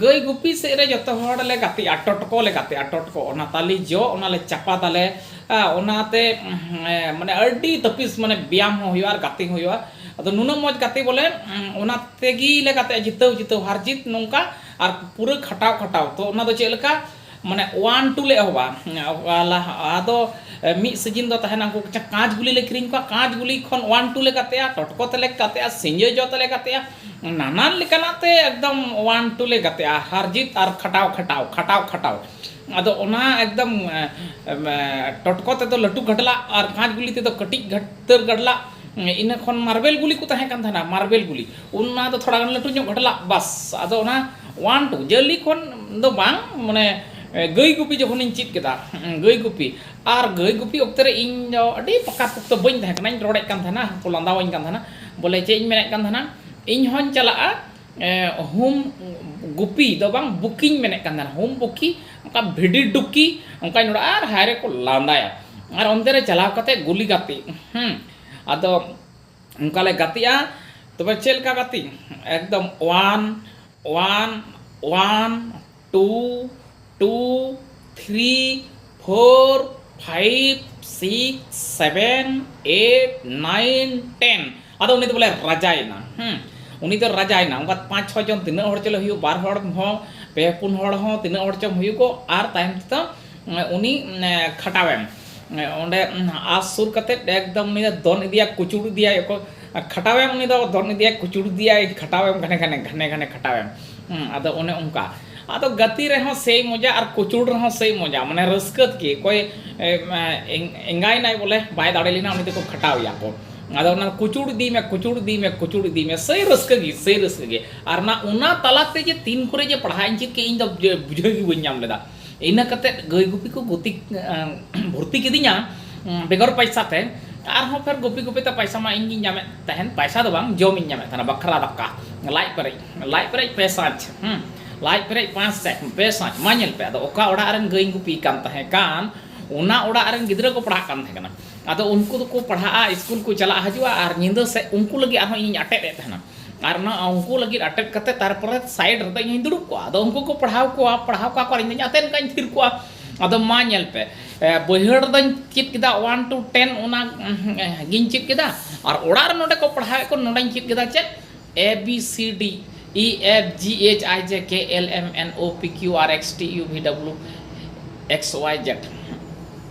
ᱜᱟᱹᱭ ᱜᱩᱯᱤ ᱥᱮᱫ ᱨᱮ ᱡᱚᱛᱚ ᱦᱚᱲ ᱞᱮ ᱜᱟᱛᱮᱜᱼᱟ ᱴᱚᱴᱠᱚ ᱞᱮ ᱜᱟᱛᱮᱜᱼᱟ ᱴᱚᱴᱠᱚ ᱚᱱᱟ ᱛᱟᱞᱮ ᱡᱚ ᱚᱱᱟ ᱞᱮ ᱪᱟᱯᱟᱫᱟᱞᱮ ᱚᱱᱟᱛᱮ ᱢᱟᱱᱮ ᱟᱹᱰᱤ ᱛᱟᱹᱯᱤᱥ ᱢᱟᱱᱮ ᱵᱮᱭᱟᱢ ᱦᱚᱸ ᱦᱩᱭᱩᱜᱼᱟ ᱟᱨ ᱜᱟᱛᱮ ᱦᱚᱸ ᱦᱩᱭᱩᱜᱼᱟ ᱟᱫᱚ ᱱᱩᱱᱟᱹᱜ ᱢᱚᱡᱽ ᱜᱟᱛᱮ ᱵᱚᱞᱮ ᱚᱱᱟ ᱛᱮᱜᱮ ᱞᱮ ᱜᱟᱛᱮᱜᱼᱟ ᱡᱤᱛᱟᱹᱣ ᱡᱤᱛᱟᱹᱣ ᱦᱟᱨ ᱡᱤᱛ ᱱᱚᱝᱠᱟ ᱟᱨ ᱯᱩᱨᱟᱹ ᱠᱷᱟᱴᱟᱣ ᱠᱷᱟᱴᱟᱣ ᱛᱚ ᱚᱱᱟ ᱫᱚ ᱪᱮᱫ ᱞᱮᱠᱟ ᱢᱟᱱᱮ ᱚᱣᱟᱱ ᱴᱩ ᱞᱮ ᱮᱦᱚᱵᱟ ᱞᱟᱦᱟ ᱫᱚ ᱢᱤᱫ ᱥᱤᱡᱤᱱ ᱫᱚ ᱛᱟᱦᱮᱱᱟ ᱩᱱᱠᱩ ᱠᱟᱸᱪ ᱜᱩᱞᱤ ᱞᱮ ᱠᱤᱨᱤᱧ ᱠᱚᱣᱟ ᱠᱟᱸᱪ ᱜᱩᱞᱤ ᱠᱷᱚᱱ ᱚᱣᱟᱱ ᱴᱩ ᱞᱮ ᱜᱟᱛᱮᱜᱼᱟ ᱴᱚᱴᱠᱚ ᱛᱮᱞᱮ ᱜᱟᱛᱮᱜᱼᱟ ᱥᱤᱸᱡᱳ ᱡᱚ ᱛᱮᱞᱮ ᱜᱟᱛᱮᱜᱼᱟ ᱱᱟᱱᱟᱱ ᱞᱮᱠᱟᱱᱟᱜ ᱛᱮ ᱮᱠᱫᱚᱢ ᱚᱣᱟᱱ ᱴᱩ ᱞᱮ ᱜᱟᱛᱮᱜᱼᱟ ᱦᱟᱨ ᱡᱤᱛ ᱟᱨ ᱠᱷᱟᱴᱟᱣ ᱠᱷᱟᱴᱟᱣ ᱠᱷᱟᱴᱟᱣ ᱠᱷᱟᱴᱟᱣ ᱟᱫᱚ ᱚᱱᱟ ᱮᱠᱫᱚᱢ ᱴᱚᱴᱠᱚ ᱛᱮᱫᱚ ᱞᱟᱹᱴᱩ ᱜᱟᱰᱞᱟᱜ ᱟᱨ ᱠᱟᱸᱪ ᱜᱩᱞᱤ ᱛᱮᱫᱚ ᱠᱟᱹᱴᱤᱡ ᱩᱛᱟᱹᱨ ᱜᱟᱰᱞᱟᱜ ᱤᱱᱟᱹ ᱠᱷᱚᱱ ᱢᱟᱨᱵᱮᱞ ᱜᱩᱞᱤ ᱠᱚ ᱛᱟᱦᱮᱸ ᱠᱟᱱ ᱛᱟᱦᱮᱱᱟ ᱢᱟᱨᱵᱮᱞ ᱜᱩᱞᱤ ᱚᱱᱟ ᱫᱚ ᱛᱷᱚᱲᱟ ᱜᱟᱱ ᱞᱟᱹᱴᱩ ᱧᱚᱜ ᱜᱟᱰᱞᱟᱜ ᱵᱟᱥ ᱟᱫᱚ ᱚᱱᱟ ᱚᱣᱟᱱ ᱴᱩ ᱡᱟᱹᱞᱤ ᱠᱷᱚᱱ ᱫᱚ ᱵᱟᱝ ᱢᱟᱱᱮ ᱜᱟᱹᱭ ᱜᱩᱯᱤ ᱡᱚᱠᱷᱚᱱᱤᱧ ᱪᱮᱫ ᱠᱮᱫᱟ ᱜᱟᱹᱭ ᱜᱩᱯᱤ ᱟᱨ ᱜᱟᱹᱭ ᱜᱩᱯᱤ ᱚᱠᱛᱮ ᱨᱮ ᱤᱧ ᱫᱚ ᱟᱹᱰᱤ ᱯᱟᱠᱟ ᱯᱚᱠᱛᱚ ᱵᱟᱹᱧ ᱛᱟᱦᱮᱸ ᱠᱟᱱᱟ ᱤᱧ ᱨᱚᱲᱮᱫ ᱠᱟᱱ ᱛᱟᱦᱮᱱᱟ ᱦᱚᱲ ᱠᱚ ᱞᱟᱸᱫᱟᱣᱟᱹᱧ ᱠᱟᱱ ᱛᱟᱦᱮᱱᱟ ᱵᱚᱞᱮ ᱪᱮᱫ ᱤᱧ ᱢᱮᱱᱮᱫ ᱠᱟᱱ ᱛᱟᱦᱮᱱᱟ ᱤᱧ ᱦᱚᱸᱧ ᱪᱟᱞᱟᱜᱼᱟ ᱦᱩᱢ ᱜᱩᱯᱤ ᱫᱚ ᱵᱟᱝ ᱵᱩᱠᱤᱧ ᱢᱮᱱᱮᱫ ᱠᱟᱱ ᱛᱟᱦᱮᱱᱟ ᱦᱩᱢ ᱵᱩᱠᱤ ᱚᱱᱠᱟ ᱵᱷᱤᱰᱤ ᱰᱩᱠᱤ ᱚᱱᱠᱟᱧ ᱨᱚᱲᱟ ᱟᱨ ᱦᱟᱭ ᱨᱮᱠᱚ ᱞᱟᱸᱫᱟᱭᱟ ᱟᱨ ᱚᱱᱛᱮ ᱨᱮ ᱪᱟᱞᱟᱣ ᱠᱟᱛᱮᱫ ᱜᱩᱞᱤ ᱜᱟᱛᱮᱜ ᱟᱫᱚ ᱚᱱᱠᱟ ᱞᱮ ᱜᱟᱛᱮᱜᱼᱟ ᱛᱚᱵᱮ ᱪᱮᱫ ᱞᱮᱠᱟ ᱜᱟᱛᱮᱜ ᱮᱠᱫᱚᱢ one one one two two three four five six seven eight nine ten ᱟᱫᱚ ᱩᱱᱤ ᱫᱚ ᱵᱚᱞᱮ ᱨᱟᱡᱟᱭᱮᱱᱟ ᱦᱮᱸ ᱩᱱᱤ ᱫᱚ ᱨᱟᱡᱟᱭᱮᱱᱟ ᱚᱱᱠᱟ ᱯᱟᱸᱪ ᱪᱷᱚ ᱡᱚᱱ ᱛᱤᱱᱟᱹᱜ ᱦᱚᱲ ᱪᱚᱞᱮ ᱦᱩᱭᱩᱜ ᱵᱟᱨ ᱦᱚᱲ ᱦᱚᱸ ᱯᱮ ᱯᱩᱱ ᱦᱚᱲ ᱦᱚᱸ ᱛᱤᱱᱟᱹᱜ ᱦᱚᱲ ᱪᱚᱝ ᱦᱩᱭᱩᱜᱚᱜ ᱟᱨ ᱛᱟᱭᱚᱢ ᱛᱮᱫᱚ ᱩᱱᱤ ᱠᱷᱟᱴᱟᱣ ᱮᱢ ᱚᱸᱰᱮ ᱟᱥ ᱥᱩᱨ ᱠᱟᱛᱮ ᱮᱠᱫᱚᱢ ᱩᱱᱤ ᱫᱚ ᱫᱚᱱ ᱤᱫᱤᱭᱟᱭ ᱠᱩᱪᱩᱲ ᱤᱫᱤᱭᱟᱭ ᱚᱠᱚᱭ ᱠᱷᱟᱴᱟᱣ ᱮᱢ ᱩᱱᱤ ᱫᱚ ᱫᱚᱱ ᱤᱫᱤᱭᱟᱭ ᱠᱩᱪᱩᱲ ᱤᱫᱤᱭᱟᱭ ᱠᱷᱟᱴᱟᱣ ᱮᱢ ᱜᱷᱟᱱᱮ ᱜᱷᱟᱱᱮ ᱜᱷᱟᱱᱮ ᱜᱷᱟᱱᱮ ᱠᱷᱟᱴᱟᱣ ᱮᱢ ᱟᱫᱚ ᱚᱱᱮ ᱚᱱᱠᱟ ᱟᱫᱚ ᱜᱟᱛᱮ ᱨᱮᱦᱚᱸ ᱥᱮᱭ ᱢᱚᱡᱟ ᱟᱨ ᱠᱩᱪᱩᱲ ᱨᱮᱦᱚᱸ ᱥᱮᱭ ᱢᱚᱡᱟ ᱢᱟᱱᱮ ᱨᱟᱹᱥᱠᱟᱹ ᱛᱮᱜᱮ ᱚᱠᱚᱭ ᱮᱸᱜᱟᱭᱮᱱᱟᱭ ᱵᱚᱞᱮ ᱵᱟᱭ ᱫᱟᱲᱮ ᱞᱮᱱᱟ ᱩᱱᱤ ᱫᱚᱠᱚ ᱠᱷᱟᱴᱟᱣ ᱮᱭᱟ ᱠᱚ ᱟᱫᱚ ᱚᱱᱟ ᱠᱩᱪᱩᱲ ᱤᱫᱤᱭ ᱢᱮ ᱠᱩᱪᱩᱲ ᱤᱫᱤᱭ ᱢᱮ ᱠᱩᱪᱩᱲ ᱤᱫᱤᱭ ᱢᱮ ᱥᱮᱭ ᱨᱟᱹᱥᱠᱟᱹ ᱜᱮ ᱥᱮᱭ ᱨᱟᱹᱥᱠᱟᱹ ᱜᱮ ᱟᱨ ᱚᱱᱟ ᱚᱱᱟ ᱛᱟᱞᱟᱛᱮ ᱡᱮ ᱛᱤᱱ ᱠᱚᱨᱮ ᱡᱮ ᱯᱟᱲᱦᱟᱜ ᱤᱧ ᱪᱮᱫ ᱠᱮᱫᱟ ᱤᱧ ᱫᱚ ᱵᱩᱡᱷᱟᱹᱣ ᱜᱮ ᱵᱟᱹᱧ ᱧᱟᱢ ᱞᱮᱫᱟ ᱤᱱᱟᱹ ᱠᱟᱛᱮ ᱜᱟᱹᱭ ᱜᱩᱯᱤ ᱠᱚ ᱜᱩᱛᱤ ᱵᱷᱚᱨᱛᱤ ᱠᱤᱫᱤᱧᱟ ᱵᱮᱜᱚᱨ ᱯᱚᱭᱥᱟ ᱛᱮ ᱟᱨᱦᱚᱸ ᱯᱷᱮᱨ ᱜᱩᱯᱤ ᱜᱩᱯᱤ ᱛᱮ ᱯᱚᱭᱥᱟ ᱢᱟ ᱤᱧ ᱜᱤᱧ ᱧᱟᱢᱮᱫ ᱛᱟᱦᱮᱱ ᱯᱚᱭᱥᱟ ᱫᱚ ᱵᱟᱝ ᱡᱚᱢ ᱤᱧ ᱧᱟᱢᱮᱫ ᱛᱟᱦᱮᱱᱟ ᱵᱟᱠᱷᱨᱟ ᱫᱟᱠᱟ ᱞᱟᱡ ᱯᱮᱨᱮᱡ ᱞᱟᱡ ᱯᱮᱨᱮᱡ ᱯᱮ ᱥᱟᱡᱽ ᱞᱟᱡ ᱯᱮᱨᱮᱡ ᱯᱟᱸᱪ ᱥᱟᱡᱽ ᱯᱮ ᱥᱟᱡᱽ ᱢᱟ ᱧᱮᱞ ᱯᱮ ᱟᱫᱚ ᱚᱠᱟ ᱚᱲᱟᱜ ᱨᱮᱱ ᱜᱟᱹᱭᱤᱧ ᱜᱩᱯᱤ ᱠᱟᱱ ᱛᱟᱦᱮᱸ ᱠᱟᱱ ᱚᱱᱟ ᱚᱲᱟᱜ ᱨᱮᱱ ᱜᱤᱫᱽᱨᱟᱹ ᱠᱚ ᱯᱟᱲᱦᱟᱜ ᱠᱟᱱ ᱛᱟᱦᱮᱸ ᱠᱟᱱᱟ ᱟᱫᱚ ᱩᱱᱠᱩ ᱫᱚᱠᱚ ᱯᱟᱲᱦᱟᱜᱼᱟ ᱥᱠᱩᱞ ᱠᱚ ᱪᱟᱞᱟᱜ ᱦᱤᱡᱩᱜᱼᱟ ᱟᱨ ᱧᱤᱫᱟᱹ ᱥᱮᱫ ᱩᱱᱠᱩ ᱞᱟᱹᱜᱤᱫ ᱟᱨᱦᱚᱸ ᱤᱧᱤᱧ ᱟᱴᱮᱫ ᱮᱫ ᱛᱟᱦᱮᱱᱟ ᱟᱨ ᱚᱱᱟ ᱩᱱᱠᱩ ᱞᱟᱹᱜᱤᱫ ᱟᱴᱮᱫ ᱠᱟᱛᱮ ᱛᱟᱨᱯᱚᱨᱮ ᱥᱟᱭᱤᱰ ᱨᱮᱫᱚ ᱤᱧ ᱦᱚᱧ ᱫᱩᱲᱩᱵ ᱠᱚᱜᱼᱟ ᱟᱫᱚ ᱩᱱᱠᱩ ᱠᱚ ᱯᱟᱲᱦᱟᱣ ᱠᱚᱣᱟ ᱯᱟᱲᱦᱟᱣ ᱠᱚᱣᱟ ᱠᱚ ᱟᱨ ᱤᱧ ᱫᱚᱧ ᱟᱛᱮᱫ ᱠᱟᱜᱼᱟᱹᱧ ᱛᱷᱤᱨ ᱠᱚᱜᱼᱟ ᱟᱫᱚ ᱢᱟ ᱧᱮᱞ ᱯᱮ ᱵᱟᱹᱭᱦᱟᱹᱲ ᱨᱮᱫᱚᱧ ᱪᱮᱫ ᱠᱮᱫᱟ ᱚᱣᱟᱱ ᱴᱩ ᱴᱮᱱ ᱚᱱᱟ ᱜᱤᱧ ᱪᱮᱫ ᱠᱮᱫᱟ ᱟᱨ ᱚᱲᱟᱜ ᱨᱮ ᱱᱚᱰᱮ ᱠᱚ ᱯᱟᱲᱦᱟᱣᱮᱫ ᱠᱚ ᱱᱚᱰᱮᱧ ᱪᱮᱫ ᱠᱮᱫᱟ ᱪᱮᱫ A B C D E F G H I J K L M N O P Q R S T U V W X Y Z